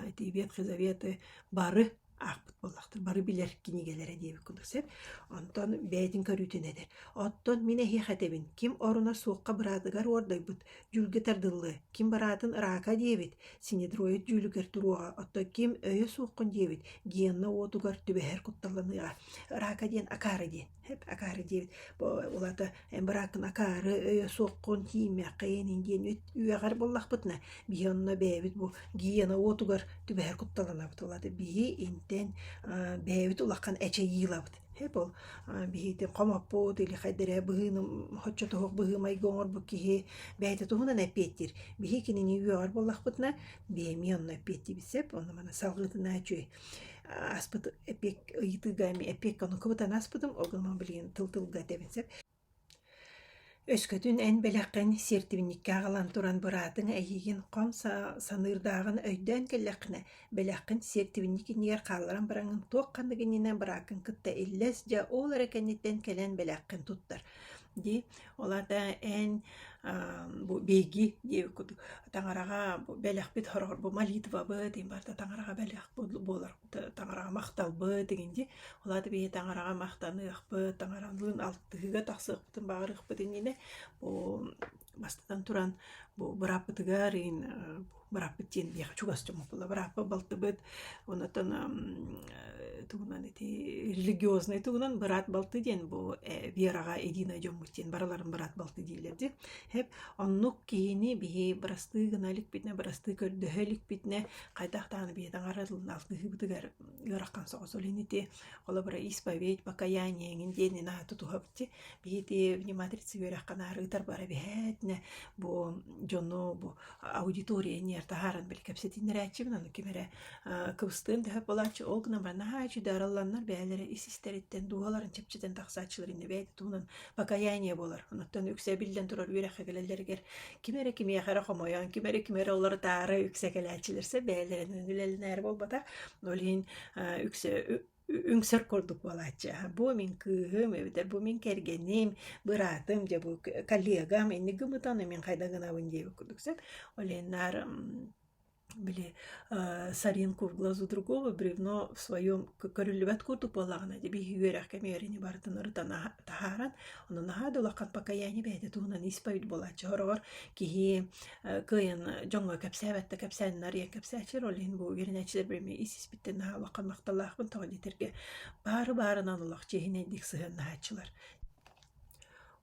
B: ити Ветхий Заветы бары аахпыт буоллахтар, бары билэр кинигэлэрэ диэбит курдук сөп. Онтон бэйэтин көрүүтүн этэр. Оттон мин эһиэхэ этэбин, ким оруна суохха быраатыгар уордайбыт, Дьүүлгэ тардыллыа, ким бараатын раака диэбит, синедроид дьүүлүгэр туруоҕа, оттон ким өйө суоххун диэбит, гиенна уотугар түбэһэр кутталланыаҕа. Раака диэн акаары диэн. Акаары диэбит. Улата эн барааккын акаары өйө суоххун тииймэххин ин диэн үөҕэр буоллахпытына, биһи онно бэйэбит бу гиена уотугар түбэһэр кутталанабыт. Улата биһи интэн бэйэбит улахан эчэйиилабыт. Эбо, биһиги хомоппут или хайдары быһыыны оччо туһук быһыы-майгы оҥорбут киһи бэйэтэ туһунан эппиэттиир. Биһиги кинини үөҕэр буоллахпытына, биэмий онно эппиэттиибит сөп, онно маны салгыытынаа үчүгэй ааспыт эппиэт ыйытыыга эппиэккэ ону кыбытан аспытым, ол гынан билигин тыл тылга этэбин сөп Өскөтүн эн бэлэххин сиэртибинньиккээх ылан туран быраатыҥ эйиигин хом саныырдааҕын өйдөөн кэллэххинэ, бэлэххин сиэртибинньик иннигэр хаалларан бараҥҥын туох-ханнык иннинэ бырааккын кытта иллэс дьэ ол эрэ кэнниттэн кэлэн бэлэххин туттар дии. Ол аата эн бу биһиги диэбит курдук таҥараҕа бу бэлэхпит хороҕор бу молитвабыт, ин барыта таҥараҕа бэлэх буолар таҥараҕа махталбыт игинди ол аата биһи таҥараҕа махтаныахпыт таҥаралыын алтыһыыга тахсыахпытын баҕарыахпыт иннинэ бу бастатан туран бу бырааппытыгар ин бырааппыт диэн биэхэ чугас чомопула бырааппа балтыбыт онотон тугунан ити религиознай тугунан быраат балты диэн бу вераҕа единая дьоммут диэн барыларын быраат балты дииллэр ди хэп оннук киһини биһи бырастыы гына иликпитинэ бырастыы көрдөһө иликпитинэ хайдах даҕаны бэйэтэ аҕарыллан алгыһыыбытыгар ыарахан соҕус олин ити холобура исповедь покаяние эҥин диэн наһаа тутуһабыт биһити внимательцы үөрэххэнээр ыытар бара биһээтинэ бу дьону бу аудитория ниэр таһааран били кэпсэтиннэрээччибин аны ким эрэ кыбыстыам дэһэ болааччы ол гына бар наһаа үчү даралланнар бээлэрэ ис истэриттэн дууһаларын чэпчэтэн тахсааччылар иннэ бэйэтэ туһунан покаяние буолар. Оттон үксэ биллэн турар үөрэххэ кэлэллэригэр ким эрэ кимиэхэ эрэ хомойон, ким эрэ ким эрэ олорутаары үксэ кэлээччилэрсэ бэйэлэринэн үлэлэнээри буолбата. Ол иһин үксэ үҥсэр курдук буолааччы. Бу мин кыыһым, эбэтэр бу мин кэргэним, быраатым, дьэ бу коллегам, инник гымытаны мин хайда гынабын диэбит курдук сөп. Ол иһин наар били сарин курглазу другого бревно в своем көрүллүбэт курдук буоллаҕына ди биһи үөрэх кэмиэрини барытын ырытан таһааран ону наһаа дулаххан покаяние бэйэтэ туһунан исповедь буолааччы хороҕор киһи кыайын дьоҥҥо кэпсээбэттэ кэпсээн нарыйан кэпсээччи роль иһин бу үөрэнээччилэр бэрми исиспиттэн наһаа улахан махталлаахпын тоҕо диэтэргэ баары баарынан олох чиэһинэйдик сыһыаннаһааччылар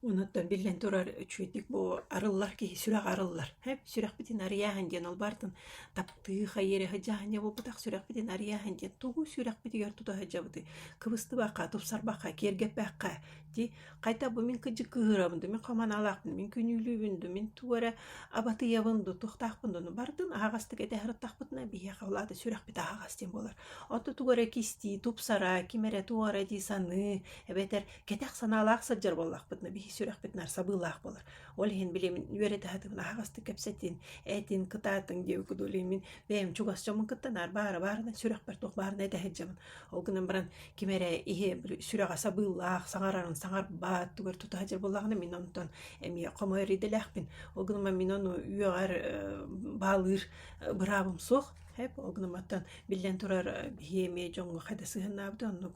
B: Онон биллэн турар, үчүгэйдик бу арыллар киһи сүрэҕэ арыллар. Ээ, сүрэхпитин арыйааһын диэн улбаартан таптыы хайыыра сыдьаанньа буолбутах, сүрэхпитин арыйааһын диэн тугу сүрэхпитигэр тута сылдьабытый? Кыбыстыбакка, тупсарбакка, киэргэппэккэ дии. Хайта бу мин кырдьык кыыһырабын дуу, мин хам аналаахпын, мин күнүүлүүбүн дуу, мин тугу эрэ абатыйабын дуу, туохтаахпын дуу, ну бардын аһаҕастык этэ сырыттахпытына биһиэхэ ол аата сүрэхпит аһаҕас диэн буолар. Оттон тугу эрэ кистии, тупсара, ким эрэ туох эрэ дии саныы эбэтэр кэтэх санаалаах сылдьар буоллахпыт на бихи сүрэхпит нар сабыылаах болар ол иһин билемин үөрэтэхэтин аһаҕастык кэпсэтин этин кытаатың диэбикку дулимин бэйэм чугас дьомун кыттанаар баара баарына сүрэхпэр туох баарына этэһирдьэбин ол гынан баран ким эрэ иһи сүрэҕэ сабыылаах саҥарарын саҥарбаат тугар тута хажыр боллаҕына мин онтон эмиэ хомой ридэлээхпин ол гынан мин ону үөҕэр баалыыр быраабым суох Хэп, ол гынан баттан биллэн турар биһиэми дьоҥҥо хайда сыһыннаабыт оннук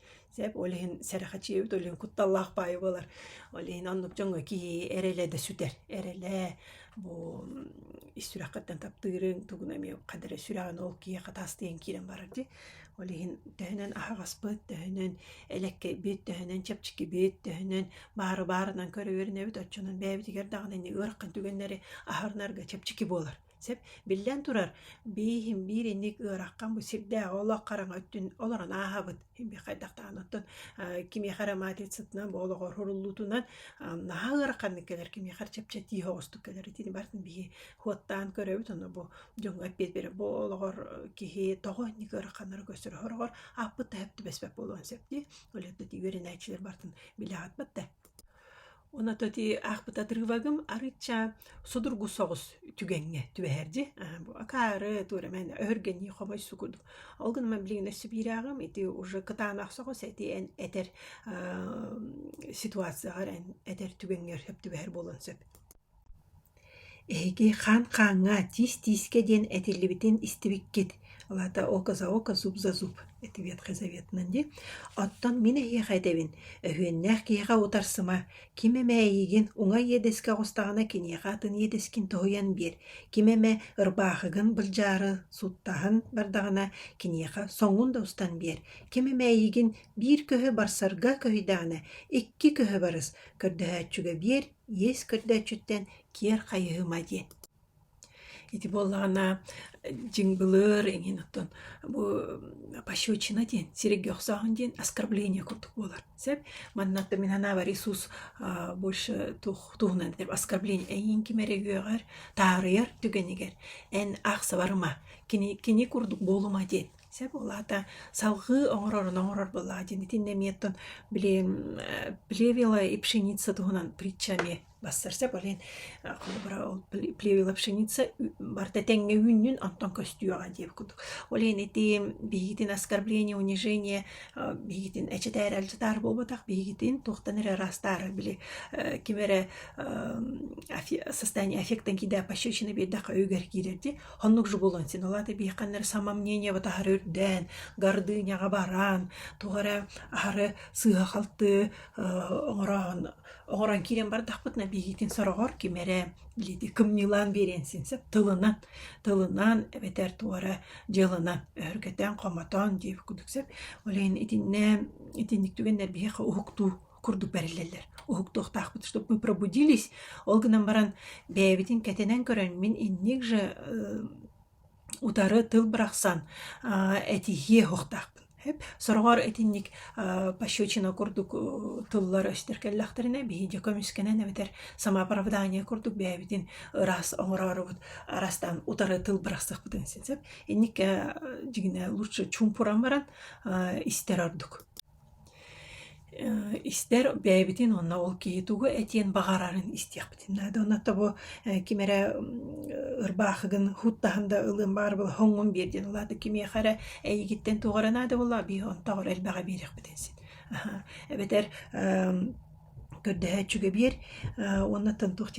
B: Сеп ол иһин сэрэхэчийэбит ол иһин кутталлаах баайы буолар. Ол иһин оннук дьоҥҥо киһи эрэлэ да сүтэр. Эрэлэ бу ис сүрэххиттэн таптыырыҥ тугун эмиэ хадары сүрэҕин ол киһиэхэ таастыйан киирэн барар дии. Ол иһин төһөнөн аһаҕаспыт, төһөнөн элэккэйбит, төһөнөн чэпчэкибит, төһөнөн баары баарынан көрө үөрэнэбит оччонон бэйэбитигэр даҕаны ини ыарахан түгэннэри аһарынарга чэпчэки буолар. Сөп. Биллэн турар, биир биир инник ыараххан бу сирдээҕи олох хараҥа өттүн олорон ааһабыт. Бих хайдах даҕаны оттон э, кимиэхэ эрэ матицатынан бу олоҕор хуруллуутунан э, наһаа ыараханнык кэлэр кимиэхэ эрэ чэпчэтии оҕустук кэлэр итини бартын биһи хуоттаан көрөбүт онно бу дьоҥҥо эппиэт бере бу олоҕор э, киһи тоҕо инник ыараханнары көстөрө хороҕор ааппыт да хэп түбэспэт буолуон сөп дии. Олетти үөрэнээччилэр бартын билэҕит да Онототи аахпыт отрывогым арычча судургу соҕус түгэҥҥэ түбэһэр дии. Акаары туорамэн өһүргэнии хомойсу курдук. Ол гынан билигин өссө биирээҕим ити уже кытаанах соҕус эти эн этэр ситуацияҕар эн этэр түгэҥҥэр сөп түбэһэр буолуон сөп. Эһиги хаан хааҥҥа тиис-тиискэ диэн этиллибитин истибиккит алата око-за-око, зуб-за-зуб этибиэт хазаветынан дии оттон мин эһиэхэ этэбин өһүөннээх киһиэхэ утарсыма ким эмэ эйигин уҥа иэдэскэ оҕустаҕына киниэхэ атын иэдэскин тоһуйан биэр ким эмэ ырбаахыгын былдьаары суттаһан бардаҕына киниэхэ соҥун да устан биэр ким эмэ эйигин биир көһө барсарга көһүйдэҕинэ икки көһө барыс көрдөһөөччүгэ биэр иэс көрдөөччүттэн киэр хайыһыма диэн ити буоллаҕына дьиҥ былыр иҥин оттон бу пощечина диэн сиргэ охсооһун диэн оскорбление курдук буолар сөп манна оминанава ресурс больше тух туһунан деп оскорбление эйиин ким эрэ үөҕэр таарыйар түгэнигэр эн аахсабарыма кини кини курдук буолума диэн Сөп улаата. Салгыы оҥорорун оҥорор былаа диэн итиннэ эмиэттэн билигин э, плевела и пшеница туһунан притча эмиэ бассар сөп олен э, холобура ол плевела пшеница барта тэҥҥэ үүннүн онтон көстүөҕэ диeb кудук олен ити биһигитин оскорбление унижение э, биһигитин эчэтээр әлжытаар буолбатах биһигитин туохтан эрэ ыраастаары били ким эрэ состояние аффектан кида пощечина биэрдэх өйүгэр киирэрди Оннук же буолан син ылааты биэххэннэр самомнение батаһары үрдээн, гордыняҕа баран, тугу эрэ аһары сыыһа-халтыы оҥороон оҥорон киирэн бардахпытына биһигитин сороҕор ким эрэ илиити кымньыылаан биэриэн син сөп тылынан тылынан эбэтэр тугу эрэ дьыаланан өһүргэтэн хомотон диэбит курдук сөп ол иһин итиннэ итинник түгэннэр биһиэхэ уһуктуу курдук бэриллэллэр. Уһуктуохтаахпыт, чтобы мы пробудились. Ол гынан баран бэйэбитин кэтэнэн көрөн мин инник же утары тыл бырахсан этиһиэ уһуктаахпын. Эп сороҕор итинник пощечина курдук тыллар өстөр кэллэхтэринэ биһиги көмүскэнэн эбэтэр самооправдание курдук бэйэбитин ыраас оҥороорубут арастан утары тыл бырахсахпытын син сөп инник дигине лучше чумпуран баран истэр ордук Истэр бэйэбитин уонна ол киһи тугу этиэн баҕарарын истиэхпитин наада. Уонна тобо ким эрэ ырбаахыгын хуттаһан да ылыан баарбыла хоҥҥун биэр диэн улаатык кимиэхэ эрэ эйигиттэн туох эрэ наада буоллаҕа, биир онтоҕор элбэҕи биэриэхпитин син. Эбэтэр көрдөһөөччүгэ биэр уонна туох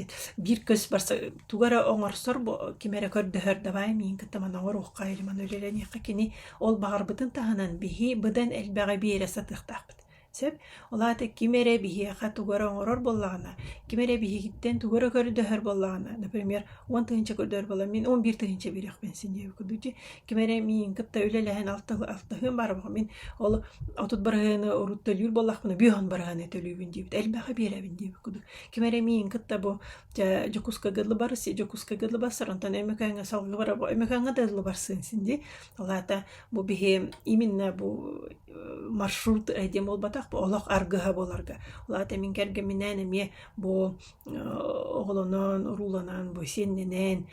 B: биир көс барса тугу эрэ оҥорсор ким эрэ көрдөһөр давай миигин кытта маны оҥоруохха или маны үлэлэниэххэ кини ол баҕарбытын таһынан биһи быдан элбэҕи биэрэ сатыахтаахпыт сөп ол аата ким эрэ биһиэхэ тугу эрэ оҥорор буоллаҕына ким эрэ биһигиттэн тугу эрэ көрдөһөр буоллаҕына например он тыһыынча көрдөһөр буоллаҕына мин он биир тыһыынча биэриэхпин син диэбиккэ дуу дии ким эрэ миин кытта үлэлэһэн алтыһы алтыһыым барабын мин ол отут быраһыаны урут төлүүр буоллахпына бүһүн быраһыаны төлүүбүн диэбит элбэхи биэрэбин диэбит кудук ким эрэ миин кытта бу дьэ дьокуускага лыбар дьокуускага лыбарсар онтон эмекаҥа салгыбара бу эмекаҥа да лыбарсын син ди алаата бу биһи именно бу маршрут диэн буолбатах бу олох аргыһа буоларга улаата мин кэргэминээн эмиэ бу оҕолонон урууланан бу сиэннэнэн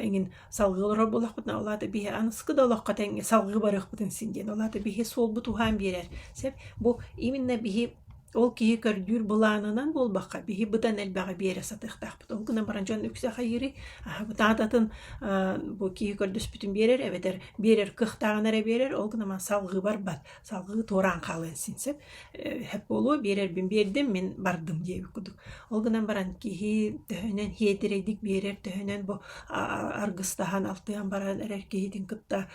B: иҥин Салгыы олорор буолахпытына, ол аата биһи аныскы да олоххо тэҥҥэ салгыы барыахпытын син диэн. Ол аата биһи суолбут уһаан биэрэр. Сөп? Бу именно биһи ол киһи көрдүүр былаанынан буолбакка, биһи бытан элбэҕи биэрэ сатыахтаахпыт. Ол гынан баран дьон үксэ хайыырый, аһа бытаататын бу киһи көрдөспүтүн биэрэр эбэтэр биэрэр кыахтааҕын эрэ биэрэр, ол гынан баран салгыы барбат. салгыы туораан хаалыан син сөп сөп буолуо биэрэрбин биэрдим мин бардым диэбит кудук ол гынан баран киһи төһөнөн хиэтирэйдик биэрэр төһөнөн бу аргыстаһан алтыан баран эрэр киһитин кытта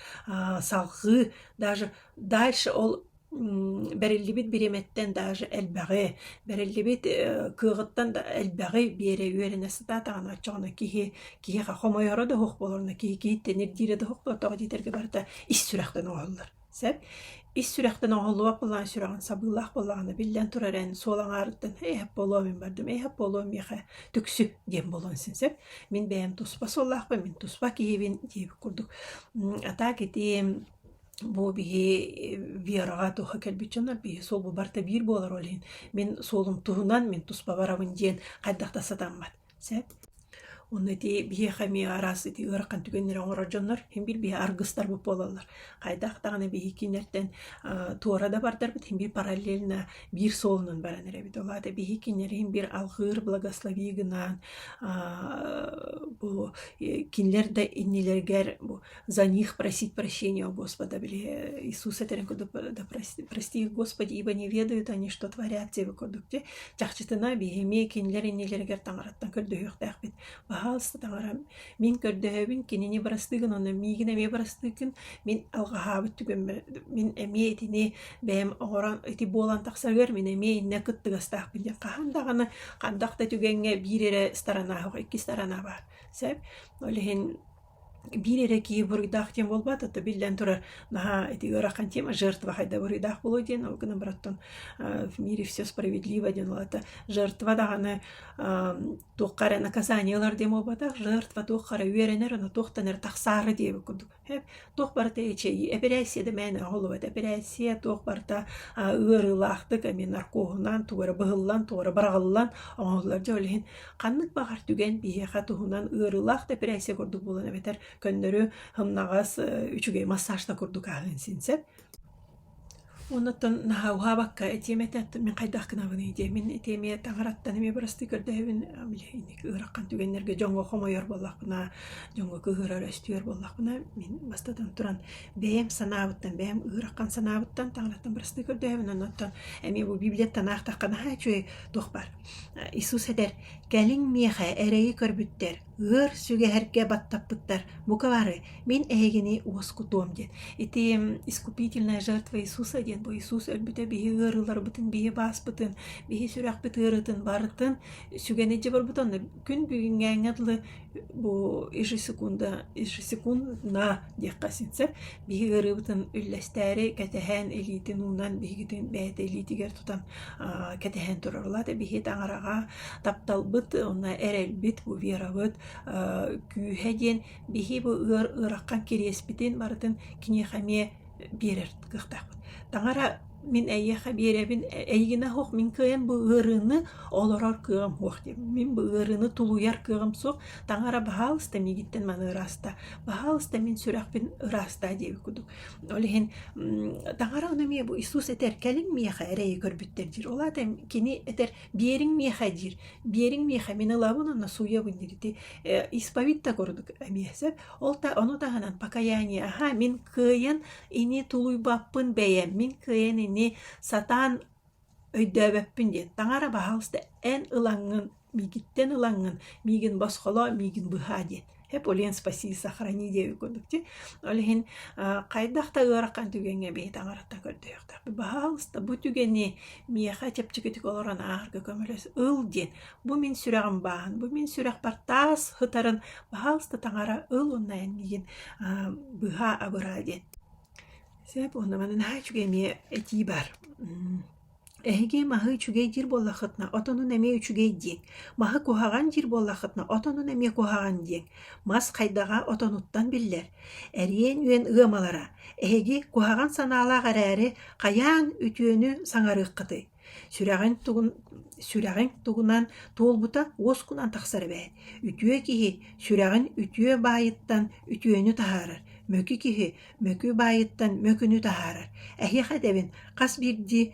B: салҕыы даже дальше ол бэриллибит бириэмэттэн даже элбэҕи бэриллибит кыаҕыттан да элбэҕи биэрэ үөрэнэ сатаатаҕына оччоҕуна киһи киһиэхэ хомойоро да оһох буоларына киһи киһиттэн ирдиирэ да оһохтоох диэтэргэ барыта ис сүрэхтэн оҥоһуллар Сөп. Ис сүрэхтэн оҕолоох буолаҕын, сүрэҕин сабыылаах буолаҕына, биллэн турар эн суол аҥаарыттан «Эйэһэп буолуо мин бардым, эйэһэп буолуо миэхэ түксүк» диэн буолуон син сөп. Мин бэйэм туспа суоллаахпын, мин туспа киһибин диэбит курдук. Атаак ити бу биһи Вераҕа туһа кэлбит дьоннор биһи суолбу барыта биир буолар ол иһин мин суолум туһунан мин туспа барабын диэн хайдах да сатаммат. Сөп. Ону ити биһиэхэ эмиэ араас ити ыарахан түгэннэри оҥорор дьоннор иһин биир-биһи аргыстарбыт буолаллар. Хайдах даҕаны биһиги кинилэртэн аа туора да бардарбыт иһин биир параллельно биир суолунан баран эрэбит. Ол аата биһиги кинилэри иһин биир алҕыыр благослови гынаан аа бу кинилэр да иннилэригэр бу за них просить прощения у Господа. Или Иисус этэрин курдук да прости их, Господи, ибо не ведают они, что творят те курдук чахчытына биһимиэ кинилэр иннилэригэр таҥараттан көрдөһүөхтээхпит. Баһаалыста таҥара мин көрдөһөбүн кинини барастыгын онно миигин эмиэ барастыгын мин алҕаһаабыт түгөммө мин эмиэ итини бэйэм оҕорон ити буолан тахсарыгар мин эмиэ иннэ кыттыгастаахпын диэн хаһан даҕаны хандах да түгэҥҥэ биир эрэ старанааһык икки старанаа баар сөп ол иһин Биир эрэ киһи буруйдаах диэн буолбат, а то биллэн турар наһаа ити ыарахан тема жертва хайда буруйдаах буолуо диэн ол гынан баран в мире все справедливо диэн улаата жертва даҕаны туохха эрэ наказание ылар диэн буолбатах жертва туохха эрэ үөрэнэр аны туохтан эрэ тахсаары диэбит курдук туох барыта эчэйии эпэрээссийэ да мээнэ оһоллубат эпэрээссийэ туох барыта ыарыылаахтык эми наркоһунан тугу эрэ быһыллан тугу эрэ быраҕыллан оҥоһуллар дьэ ол иһин Ханнык баҕар түгэн биһиэхэ туһунан ыарыылаах дэпирэссия курдук буолан эбэтэр көннөрү ымнаҕас үчүгэй массаж да курдук ааһыан син сөп. Оннуттан наһаа уһаабакка этиэм этэ мин хайдах гынабыный диэмин итиэмиэ таҥараттан эмиэ бырастыы көрдөһөбүн билиһинник ыарахан түгэннэргэ дьоҥҥо хомойор буоллахпына дьоҥҥо кыыһырар өстүөр буоллахпына мин бастатан туран бэйэм санаабыттан бэйэм ыарахан санаабыттан таҥараттан бырастыы көрдөһөбүн оннуттан эмиэ бу библияттан аахтахха наһаа үчүгэй туох баар Исус этэр: «Кэлиҥ миэхэ эрэйи көрбүттэр, ыар сүгэһэргэ баттаппыттар, бука бары, мин эһигини уоскутуом» диэн. Ити искупительная жертва Иисуса диэн бу Иисус өлбүтэ биһи ыарыыларбытын, биһи бааспытын, биһи сүрэхпит ыарыытын барытын сүгэн илдьэ барбыта онно Күн бүгүҥҥээҥҥэ дылы бу ежесекунда ежесекундно диэххэ син сөп биһи ыарыыбытын үллэстээри кэтэһэн илиитин уунан биһигитин бэйэтэ илиитигэр тутан кэтэһэн турар. Ол аата биһи таҥараҕа тапталбыт уонна эрэлбит бу верабыт күүһэ диэн биһи бу ыар ыараххан кириэспитин барытын киниэхэ эмиэ биэрэр кыахтаахпын. Таҥара мин эйиэхэ биэрэбин, эйигинэ суох мин кыайан бу ыарыыны олорор кыаҕым суох диэм. Мин бу ыарыыны тулуйар кыаҕым суох. Таҥара баһаалыста миигиттэн маны ырааста, баһаалыста мин сүрэхпин ырааста диэбит курдук. Ол иһин таҥара ону эмиэ бу Иисус этэр «кэлин миэхэ эрэйи көрбүттэр» диир. Ол аата кини этэр «биэриҥ миэхэ» диир. «биэриҥ миэхэ мин ылабын уонна сууйабын» диир. Ити исповедь да курдук эмиэ сөп. Ол та ону таһынан покаяние аһаа мин кыайан ини тулуйбаппын бэйэм, мин кыайан ини сатаан өйдөөбөппүн диэн. Таҥара баһаалыста эн ылаҥҥын, миигиттэн ылаҥҥын, миигин босхолоо, миигин быһаа диэн. Эполен спаси сохрани диэбит курдук дии. Ол иһин хайдах да ыарахан түгэҥҥэ бэйи таҥараттан көрдөһүөхтэхпит. Баһаалыста бу түгэни миэхэ чэпчэкитик олорон ааҕарга көмөлөс, ыл диэн Бу мин сүрэҕим бааһын, бу мин сүрэхпэр таас ытарын баһаалыста таҥара ыл уонна эн миигин быһа абыраа диэн. Сөп уонна манан аа үчүгэй эмиэ этии бар. Эһиги маһы үчүгэй диир буоллахытына, отонун эмиэ үчүгэй диэҥ. Маһы куһаҕан диир буоллахытына, отонун эмиэ куһаҕан диэҥ. Мас хайдаҕа отонуттан биллэр. Эриэн үөн ыамалара. Эһиги куһаҕан санаалаах эрээри, хайаан үтүөнү саҥарыаххытый? Сүрэҕиҥ тугун сүрэҕиҥ тугунан туолбута уоскунан тахсар эбээт. Үтүө киһи сүрэҕин үтүө баайыттан үтүөнү таһаарар, мөкү киһи мөкү баайыттан мөкүнү таһаарар. Эһиэхэ этэбин хас биирдии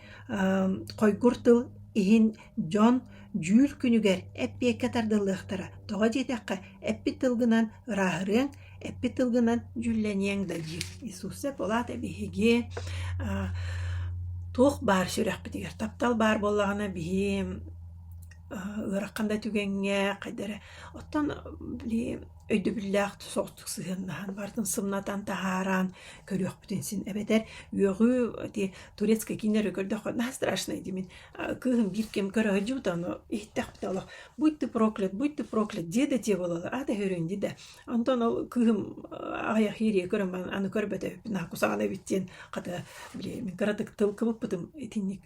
B: хойгур тыл иһин дьон дьүүр күнүгэр эппиэккэ тардыллыахтара. Тоҕо диэтэххэ, эппит тылгынан ырааһырыаҥ, Эппит тылгынан дьүүллэниэҥ да дии. Иисусеп улаат ээ биһиги аа туох баар сүрэхпитигэр таптал баар буоллаҕына биһи аа ыарахан да түгэҥҥэ хайда эрэ оттон били өйдөбүллээх соҕотук сыһыаннаһан барытын сымнатан таһааран көрүөхпүтүн син эбэтэр үөҕүү ити турецкай кииннэргэ көрдөххө наһаа страшный дии мин а, кыыһым биир ким көрө сылдьыбыта ону иһиттэхпитэ олох будь ты проклят будь ты проклят дьиэ да дьиэ буолаллар аата һөрүөн дии да Онтон ол кыыһым аҕыйах иирийэ көрөн аны көрбөтөппүн аха кусаҕана эбит диэн хата били мин кыратык тыл кыбыппытым итинник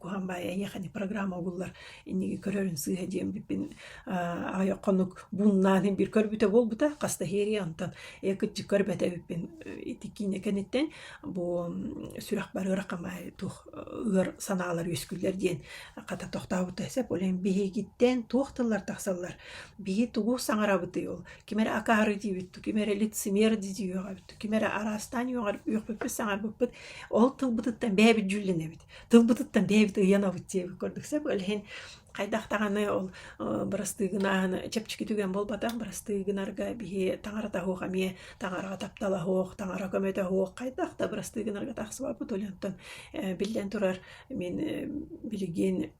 B: куһаан баайа эйиэхэни программа угуллар инниги көрөрүн сыыһа диэн биппин аҕыйах хонук бууннаан иһин бир көрбүтэ буолбута хаста иһиэрийэ онтон ээ кытчык көрбөтө эбиппин ити киинэ кэниттэн бу сүрэх барыыра камай тух ыар санаалар үөскүллэр диэн хата тохтообута сеп олен биһигиттен туох тыллар тахсаллар Биһи тугу саҥарабытый ол? Ким эрэ акаары диибит, ким эрэ лицемер дии үөҕэбит, ким эрэ араастаан үөҕэр үөхпүппүт, саҥарбыппыт. Ол тылбытыттан бэйэбит дьүллэнэбит. Тылбытыттан бэйэбит ыйанабыт диэбит курдук. Сөп, ол иһин хайдах даҕаны ол бырастыы гынааһын чэпчэки түгэн буолбатах. Бырастыы гынарга биһи таҥарата суох эмиэ таҥараҕа таптала суох, таҥара көмөтө суох хайдах да бырастыы гынарга тахсыбаппыт. Ол онтон биллэн турар, мин билигин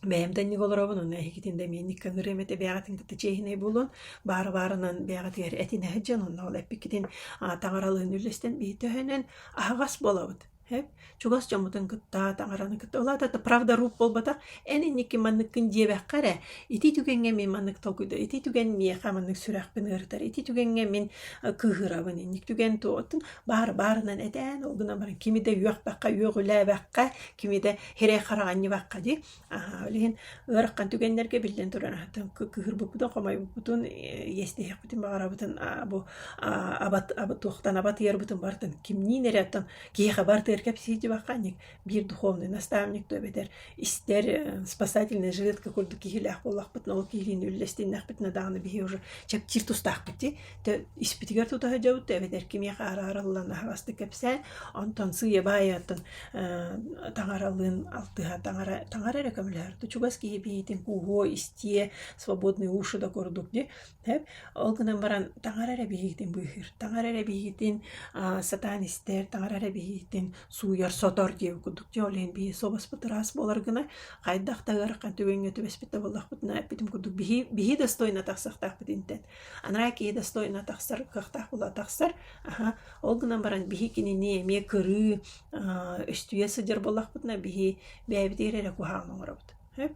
B: Бэйэм да инник олоробун, уонна эһигитин да эмиэ инникитин ырыам этэ бэйэҕитин кытта чиэһинэй буолуон. Баара-баарынан бэйэҕитигэр этинэ сылдьан, уонна ол эппиккитин а таҥаралыын үллэстэн биһиртөһөнөн аһаҕас буолабыт. Һэп? Чугас дьоммутун кытта, таҥараны кытта. Ол аата да правда-рууп буолбатах. Эн инникки манныккын диэбэххэ эрэ, ити түгэҥҥэ мин маннык толкуйдуур, ити түгэн миэхэ маннык сүрэхпин ыарытар, ити түгэҥҥэ мин э, кыыһырабын, инник түгэн туоттун. Баара-баарынан этээн, ол гынан баран кими да үөхпэххэ, үөҕүлээбэххэ, кими да Хирэй хараҕанньыбакка дии. Аһаа, билигин ыараххан түгэннэргэ биллэн туран аһатан кыһырбыппутун, хомойбуппутун, иэстэһиэхпитин баҕарабытын бу абат туохтан абатыйарбытын барытын кимниин эрэ оттон киһиэхэ барытыгар кэпсиирдибакка анньык биир духовный наставник то эбэтэр истэр спасательный жилетка курдук киһилээх буоллахпытына ол киһилиин үллэстиннэхпитинэ даҕаны биһи уже чэпчиир тустаахпыт дии Тэ испитигэр тута сылдьабыт эбэтэр кимиэхэ араарыллан аһаҕастык кэпсээн, онтон сыыйабаайыттан э, таҥаралыын алтыһа таҥара таҥара эрэ көмөлөһөр. То чугас киһи билиитин кууһуо, истиэ, свободные уши да курдук ди. Тэп ол гынан баран таҥара эрэ билиитин быыһыыр. Таҥара эрэ билиитин а, сатаан истэр, таҥара эрэ билиитин сууйар, сотор диэбит курдук. Дьэ ол иһин бии собоспут ыраас буолар гына хайдах тагар қан түбөҥҥө түбэспит да буоллахпытына эппитим курдук биһи биһи достойна тахсахтаахпыт интэн. Анараа киһи достойно тахсар, кыахтаах буола тахсар. Аха, ол гынан баран биһи кинини эмиэ көрүү, аа, үстүйэ сылдьар буоллахпытына биһи бэйэбитигэр эрэ куһаҕан оҥоробут. Сөп?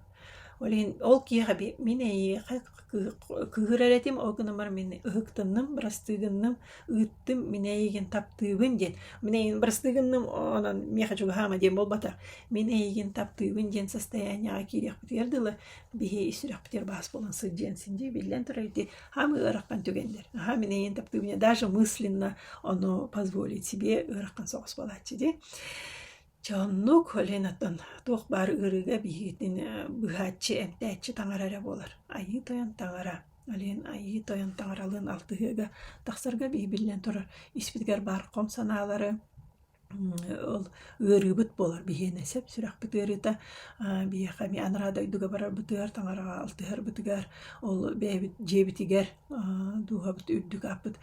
B: Ол иһин ол киһиэхэ би- мин эйиэхэ кыыһ- кыыһырар этим, ол гынан баран мин ыһыктынным, бырастыы гынным, ыыттым, мин эйигин таптыыбын диэн. Мин эйигин бырастыы гынным, онон миэхэ чугаһаама диэн буолбатах. Мин эйигин таптыыбын диэн состояниеҕа киириэхпитигэр дылы биһи сүрэхпитигэр баас буолан сылдьыан син дии биллэн турар ити хаам ыараххан түгэннэр наһаа минэйин таптыы мне даже мысленно ону позволить себе ыарахан соҕус буолааччы дии Чэ оннук Ленаттан туох баар ыарыыга биһигитин быһааччы, эмтээччи таҥара эрэ буолар. Айыы Тойон таҥара. Лен Айыы Тойон таҥаралыын алтыһыыга тахсарга биһи биллэн турар испитигэр баар хом санаалары, ол ыарыыбыт буолар биһиэнэ сөп сүрэхпит ыарыыта биһиэхэ эмиэ анараа дойдуга барарбытыгар таҥараҕа алтыһарбытыгар ол бэйэбит дьиэбитигэр дууһабыт үрдүк ааппыт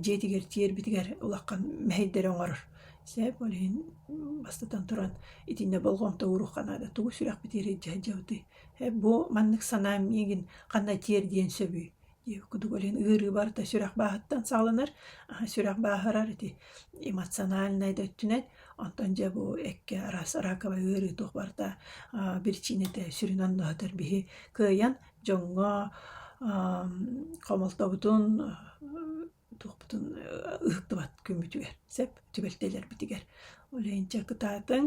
B: дьиэтигэр тиэрбитигэр улахан мэһэйдэри оҥорор сөп ол иһин бастатан туран итиннэ болҕомто ууруохха наада тугу сүрэхпит иирэ илдьэ сылдьабытый бу маннык санаам миигин ханна тиэрдиэн сөбүй Дии, кудук блин ыарыы барыта сүрэх бааһыттан саҕаланар, сүрэх бааһырар ити эмоциональнай да өттүнэн. Онтон дьэ бу эккэ араас раковай ыарыы туох барыта биричиинэтэ сүрүн андыһатар биһи кыайан дьоҥҥо хомолтобутун Туохпутун ыһыктыбат күммүтүгэр, сөп түбэлтэлэрбитигэр. Ол иһин чэ кытаатыҥ,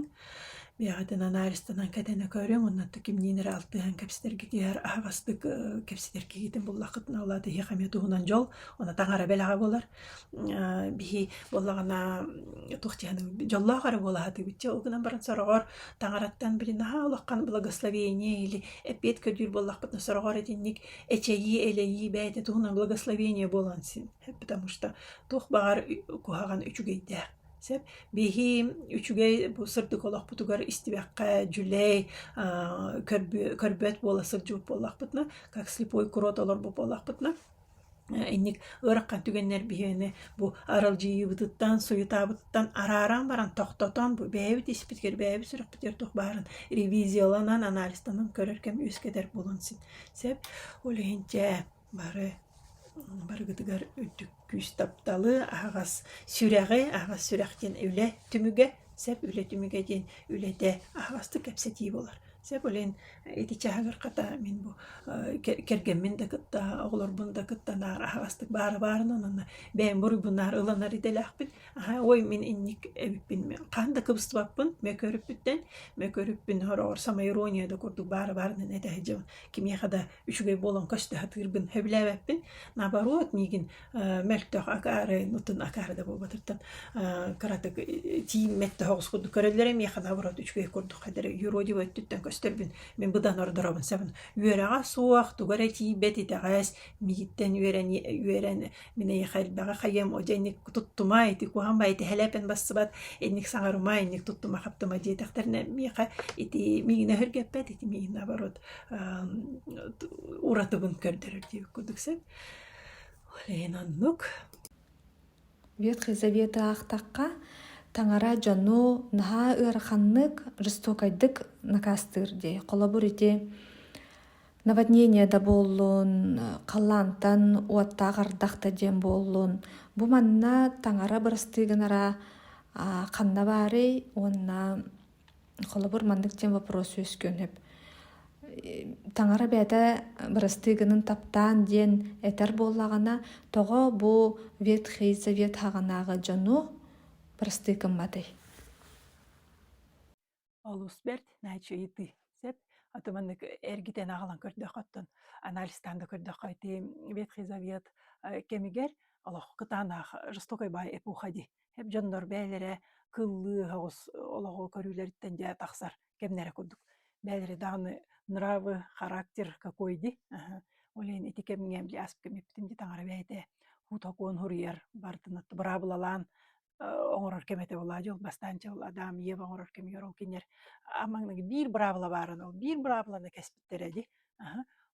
B: бэйэҕитин анализтанан кэтэнэ көрүҥ, оннуоттан кимниин эрэ алтыһан кэпсэтэргитигэр аһаҕастык кэпсэтэр киһигитин буллаххытына ол аата киһиэхэ эмиэ туһунан дьол, ону таҥара бэлэҕэ буолар. Биһи буоллаҕына туох дьиһэнин дьоллоох эрэ буолаһытыгыт чэ ол гынан баран сороҕор таҥараттан били наһаа улахан благословение или эппиэт көрдүүр буоллахпытына сороҕор итинник эчэйии-элэйии бэйэтэ туһунан благословение буолан син потому что туох баҕар куһаҕан үчүгэйдээх сөп биһи үчүгэй бу сырдык олохпутугар истибэххэ дьүлэй көрбөт буола сылдьыбыт буоллахпытына как слепой курот олорбут буоллахпытына инник ыарахан түгэннэр биһиэни бу аралдьыйыыбытыттан суйутаабытыттан арааран баран тохтотон бу бэйэбит испитигэр бэйэбит сүрэхпитигэр туох баарын ревизияланан анализтанан көрөр кэм үөскэтэр буолан син Сөп. Ол иһин дьэ бары барыгытыгар үрдүк күүс тапталы, аһаҕас сүрэҕи, аһаҕас сүрэх диэн үлэ түмүгэ, сөп үлэ түмүгэ диэн үлэтэ аһаҕастык кэпсэтии буолар. Сөп ол иһин ити чаһыгар хата мин бу кэргэммин да кытта, оҕолорбун да кытта наар аһаҕастык баара баарынан уонна бэйэм буруйбун наар ылынар идэлээхпин. Ой, мин инник эбиппин мен хаһан да кыбыстыбаппын мөкөрүппүттэн мөкөрүппүн хороҕор самоирония да курдук баары баарынан этэһи дьым кимиэхэ да үчүгэй буолан көстө сатыырбын сөбүлээбэппин наоборот миигин мөлтөх акаары нутун акаары да буолбатыртан кыратык тииммэт да хоҕус курдук көрөллөрө миэхэ наоборот үчүгэй курдук хадары юродиво өттүттэн көстөрбүн мен быдан ордоробун сабын үөрэҕэ суох тугу эрэ тиийбэт итэҕэс миигиттэн үөрэн үөрэн Мин эйиэхэ элбэҕи хайыам, о дьэ инник туттума, ити куһаҕан баай ити һэлээпэн бассыбат, инник саҥарума, инник туттума-хаптыма диэтэхтэринэ миэхэ ити миигинэ өргөппөт, ити миигин наоборот уратыбын көрдөрөр диэбит курдук сөп. Ол иһин оннук.
A: Ветхий Заветы аахтахха, таҥара дьону наһаа ыараханнык, жестокайдык накаастыыр дии. Холобур, ити Наводнение да буоллун, халлаантан уоттаах ардах да диэн буоллун, бу манна таҥара бырастыы гынара а, ханна баарый уонна холобур маннык диэн вопрос үөскүөн сөп. Таҥара бэйэтэ бырастыы гынын таптаан диэн этэр буоллаҕына, тоҕо бу Ветхий Завет хаҕынааҕы дьону бырастыы гымматый?
B: олус бэрт нааччы ыйытыы сөп аты маннык эргитэн аҕалан көрдөххө оттон анализтаан да көрдөххө ити ветхий завет кэмигэр олох кытаанах жестокой баай эпоха дии эп дьоннор бэйэлэрэ кыллыы оҕус олоҕу көрүүлэриттэн дьэ тахсар кэмнэрэ курдук бэйэлэрэ даҕаны нравы характер какой ди ол иһин ити кэмҥэ ааспыт кэмиппитин дии таҥара бэйэтэ хуутакуон хуруйар бартын быраабылалаан оҥорор кэм этэ буолаа дьыл бастаан дьыл Адам Ева оҥорор кэмигэр ол кинилэр амаҥнык биир быраабыла бааран ол биир быраабыланы кэспиттэрэ ди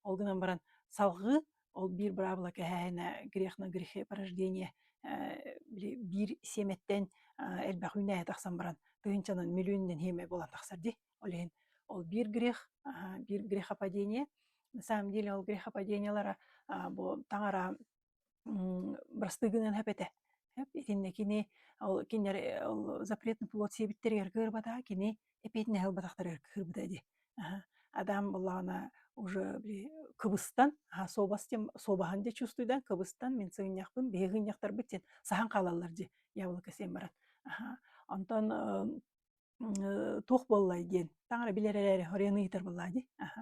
B: ол гынан баран салгыы ол биир быраабыла кэһээһинэ грех на грехе порождение биир сиэмэттэн элбэх үүнээһи тахсан баран тыһынчанан миллиуннан хиэмэ буолан тахсар ди ол иһин ол биир грех биир грехопадение на самом деле ол грехопадениелара бу таҥара Бырастыы гынан һэп этэ. Һэп итиннэ кини ол кинилэри ол запретный плод сиэбиттэригэр кыырбата, кини эпиэтинэһи ылбатахтарыгар кыырбата ди. Аһа. Адам былаана уже били кыбыстан, аһа суобас диэн суобаһын дии чувствуйдан кыбыстан мин сыгынньахпын биһиги сыгынньахтарбыт син саһан хаалаллар дии. Яблоко сиэн баран. Аһа. Онтон Э, туох буоллай диэн таҥара билэр эрээри оройуон ыйытар буоллаа дии аха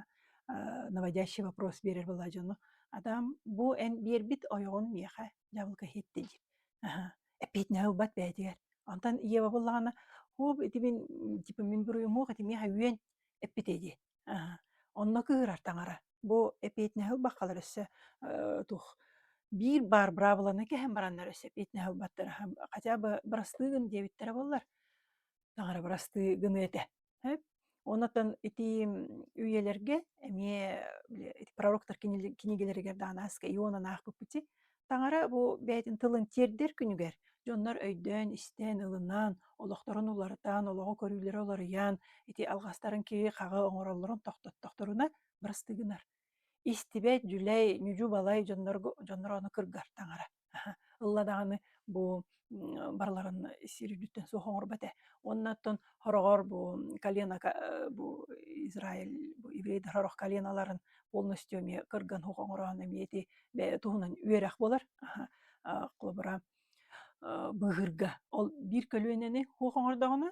B: э, наводящий вопрос биэрэр буоллаа дьону атам бу эн биэрбит ойоҕун миэхэ дьабылка иһитти диир аха эппиэтинэһи ылбат бэйэтигэр онтон Ева буллаҕына хоп ити мин типа мин буруйумуох ити миэхэ үөн эппитэ дии Аһа. Онно кыыһырар таҥара. Бу эпиэтинэһи ылбаххалар өссө э, туох биир баар быраабыланы кэһэн бараннар өссө эпиэтинэһи ылбаттара. Хотя бы бырастыы гын диэбиттэрэ буоллар, таҥара бырастыы гыны этэ. Эп? Оннотон ити үйэлэргэ эмиэ били ити пророктар кинигэлэригэр даҕаны аска Иона аахпыппыти. Таҥара бу бэйэтин тылын тиэрдэр күнүгэр дьоннор өйдөөн-истээн, ылынаан, олохторун уларытаан, олоҕу көрүүлэрэ уларыйаан, ити алҕастарын киһи хаҕы оҥороллорун тохтоттохторуна бырастыгынар. Истибэт, дьүлэй, ньүдьү-балай дьоннорго дьонноро ону кыргар таҥара. Ылла даҕаны бу барыларын сир үрдүттэн суох оҥорбот ээ. Уонна оттон хороҕор бу калинака бу Израиль бу еврейдэр сорох калиналарын полностью эмиэ кырган уһук оҥороон эмиэ ити туһунан үөрэх буолар. Холобура быыһырга ол биир көлүөнэни уһук оҥордоҕуна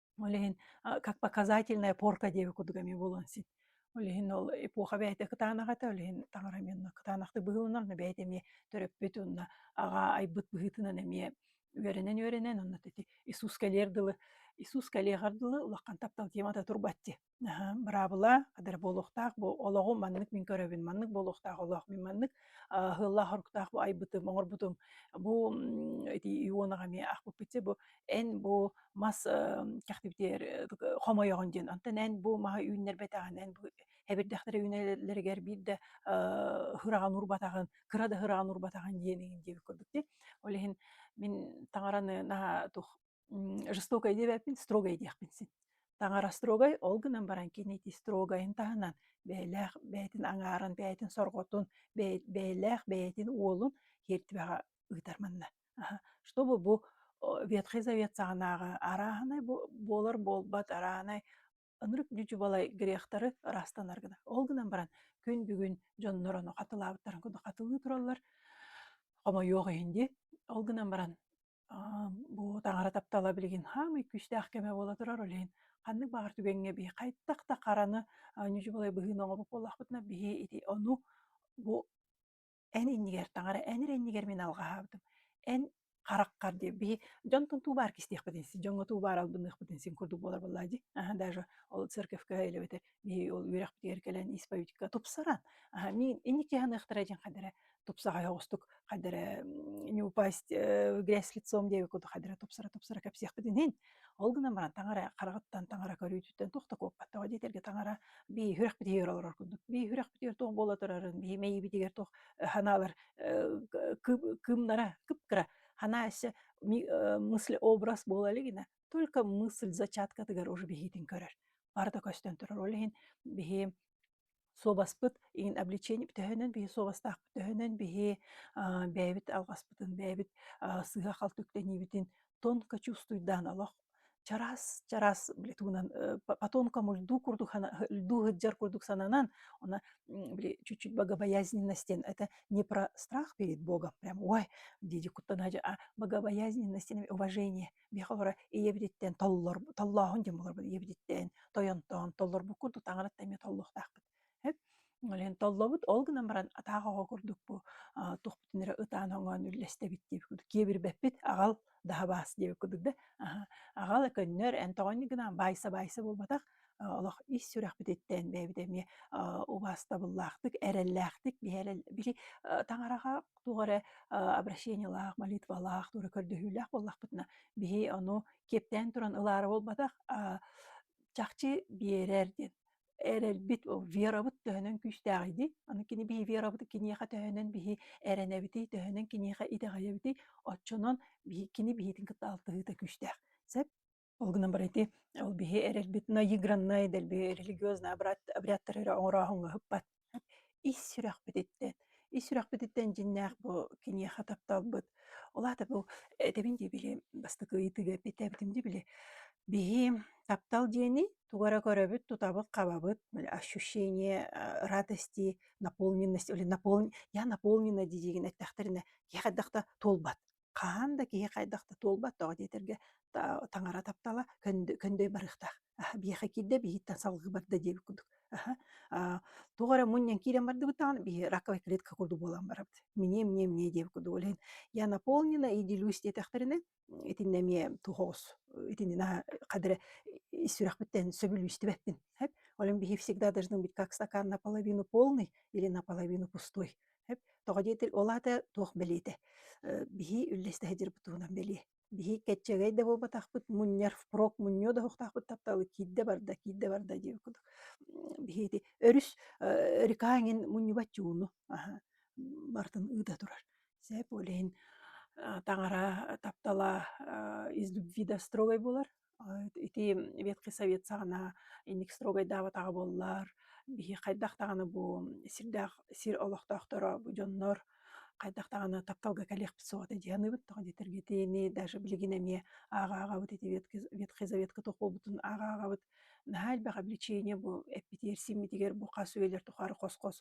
B: Ол иһин как показательная порка диэки кудук эмиэ буолуон син. Ол иһин ол эпоха бэйэтэ кытаанаҕа этэ, ол иһин таҥара эмиэ онно кытаанахтык быһылынар, но бэйэтэ эмиэ төрөппүт уонна аҕа айбыт быһыытынан эмиэ үөрэнэн-үөрэнэн онно ити Иисус кэлиэр дылы Иисус кэлиэҕэр дылы улахан таптал темата турбаччы. быраабыла адыр буолуохтаах бу олоҕу маннык мин көрөбүн маннык буолуохтаах олох мин маннык хыллаах-хоруктаах бу айбытым оҥорбутум бу эти иуонаҕа эмиэ ахпыппытче бу эн бу мас кэхтибитиэр хомойоҕун диэн онтон эн бу маһы үүннэрбэтэҕин эн бу эбирдэхтэрэ үүнэллэригэр биир да ыһыраҕан урбатаҕын кыра да ыһыраҕан урбатаҕын диэниҥ диэбит курдук ол иһин мин таҥараны наһаа тух жестокай диэбэппин строгай диэхпин син таҥара строгай ол гынан баран кини ити строгайын таһынан бэйэлээх бэйэтин аҥаарын бэйэтин сорҕотун бэйэлээх бэйэтин уолун хиэртибэҕэ ыытар манна чтобы бу ветхай завет саҕанааҕы арааһынай буолар буолбат арааһынай Ынырык дьудьубалай грехтары ыраастанар гына. Ол гынан баран күн бүгүн дьоннор ону хатылаабыттарын курдук хатылыы тураллар. Хомойуох иһин дии. Ол гынан баран бу таҥара таптала билигин хаамый күүстээх кэмэ буола турар ол иһин ханнык баҕар түгэҥҥэ бии хайдах да хараны ньудьубалай быһыыны оҥорбут буоллахпытына биһи ити ону бу эн иннигэр таҥара, эн ир иннигэр мин алҕаһаабытым. Эн хараххар диир биһи дьонтон туу баар кистиэхпитин син, дьоҥҥо туу баар албынныахпытын син курдук буолар буоллаа дии. Аһа даже ол церковка илэбэтэ биһи ол үөрэхпитигэр кэлэн исповедька тупсаран, аһа мин инники аныахтара диэн хайдара тупсаҕай оҕустук хайдара не упасть э, грязь лицом диэби куту хайдара тупсара тупсара кэпсиэхпитин иһин Ол гынан баран таҥара хараҕыттан таҥара көрүүтүттэн туох да куоппаттаҕа диэтэргэ таҥара бии үрэх битигэр олорор курдук. Бии үрэх битигэр туох буола турарын, бии мэйии битигэр туох санаалар кыымнара кып-кыра ханаа эссе мыслеобраз буола илигинэ только мысль зачаткатыгар уже биһиитин көрөр. Барыта көстөн турар. Ол иһин биһи Суобаспыт иһин обличение төһөнөн биһи суобастаахпыт, төһөнөн биһи аа бэйэбит алҕаспытын, бэйэбит аа сыыһа-халты үктэниибитин тонко чувствуйдаан олох чараас чараас били тугунан э, потомка мульдуу курдук льдуу сылдьар курдук сананан она били чуть-чуть богобоязненность диэн это не про страх перед Богом прям ой диди куттана богобоязненность уважение Миэхэ олоро ийэбититтэн толлор толлооһун диэн буоларбыт ийэбититтэн тойонтоон толлорбуккун тутаҕырытта эмиэ толлуохтаахпыт. Үлэһин толлобут, ол гынан баран атаах оҕо курдук бу туохпутун эрэ ытаан-хоҥоон үллэстэбит диэбит курдук киэбирбэппит аҕал даһа баас диэбит курдук да аҕал көннөр эн тоҕонньук гынаан баайса-баайса буолбатах олох ис сүрэхпититтэн бэйэбит эмиэ убаастабыллаахтык, эрэллээхтик биһи эрэл били таҥараҕа туох эрэ обращениелаах, молитвалаах, туора көрдөһүүлээх буоллахпытына биһи ону киэптээн туран ылаары буолбатах чахчы биэрэр диэн эрэлбит верабыт төһөнөн күүстээҕий дии аны кини биһи верабыты киниэхэ төһөнөн биһи эрэнэбитий төһөнөн киниэхэ итэҕэйэбитий оччонон биһи кини биһитин кытта алтыһыыта күүстээх сөп Ол гынан баран ити ол биһи эрэлбит наиграннай дэлби религиознай обряд обрядтары эрэ оҥорооһуҥҥа ыппат. Ис сүрэхпититтэн ис сүрэхпититтэн дьиннээх бу киниэхэ тапталбыт, ол аата бу этэбин дии били бастакы ыйытыыга эппиэттээбитим дии били биһи таптал диэни тугу эрэ көрөбүт, тутабыт-хабабыт, ощущение э, радости, наполненность или наполн я наполнена дии диигин эттэхтэринэ киһи хайдах да туолбат. хаһан да киһи хайдах да туолбатоҕо диэтэргэ таҥара таптала көндөй барыахтаах аһа биһиэхэ киирдэ биһиттэн салгыы барда диэбит курдук аһа туох эрэ мунньан киирэн бардыбыт даҕаны биһи раковая клетка курдук буолан барабыт мне мне мне диэбит курдук ойлаһан я наполнена и делюсь диэтэхтэринэ итиннэ эмиэ туһоҕос итиннэ хадыры сүрэхпиттэн сөбүлүүстүбэппин ол биһи всегда должны быть как стакан наполовину полный или наполовину пустой Хөп, тоҕо диэтир, ол аата туох бэлиэтэ? Э, биһи үллэстэһэ дьырбыт туһунан бэлиэ. Биһи кэччэгэй да буолбатахпыт, мунньар, впрок мунньуо да оһохтоохпут тапталы киирдэ барда, киирдэ барда дии курдук. Биһи ити өрүс э, река эҥин мунньубат чууну аха, бартын ыыта турар. Сээп ол иһин таҥара, таптала из любви до строгой буолар, ити Ветхий Совет саҕана инник строгайдаабатаҕа буоллар, биһи хайдах даҕаны бу сирдээх сир олохтоохторо бу дьоннор хайдах даҕаны тапталга кэлиэхпит суоҕа дии саныыбыт тоҕо диэтэргитиини даже билигин эмиэ ааҕаҕабыт ити Ветхий Ветхий Заветка толкуйбутун ааҕаҕабыт наһаа элбэх обличение бу эппитигэр симмитигэр бу хас үйэлэр тухары хос-хос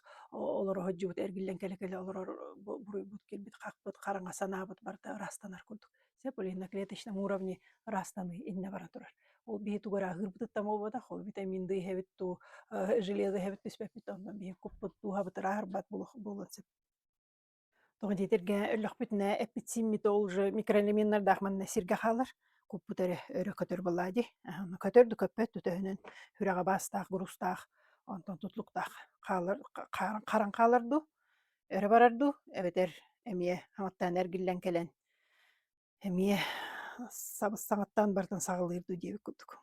B: олоро сылдьыбыт эргиллэн кэлэ-кэлэ олорор буруйбут кэлбит хахпыт хараҥа санаабыт барыта ырастанар курдук Сөп были на клеточном уровне растаны иннэ бара турар. Ол биһи тугара аһыырбытыттан буолбатах, ол витамин ды иһэбит туу, железо иһэбит түспэппит онно биһи куппут дууһабыт ырааһырбат буолуон сөп. Тоҕо диэтиргэ өллөхпүтүнэ эппитсиммит ол же микроэлементардаах манна сиргэ хаалар куппут өрө өрө көтөр былаа ди аны көтөр да көппөт төтөһүнөн хүрэҕэ баастаах грустаах онтон тутлуктаах хаалар харан хаалар ду Өрө барар дуу? Эбэтэр эмиэ саҥаттан эргиллэн кэлэн эмиэ сабыс саҥаттан барытын саҕалыыр дуу диэбит курдук.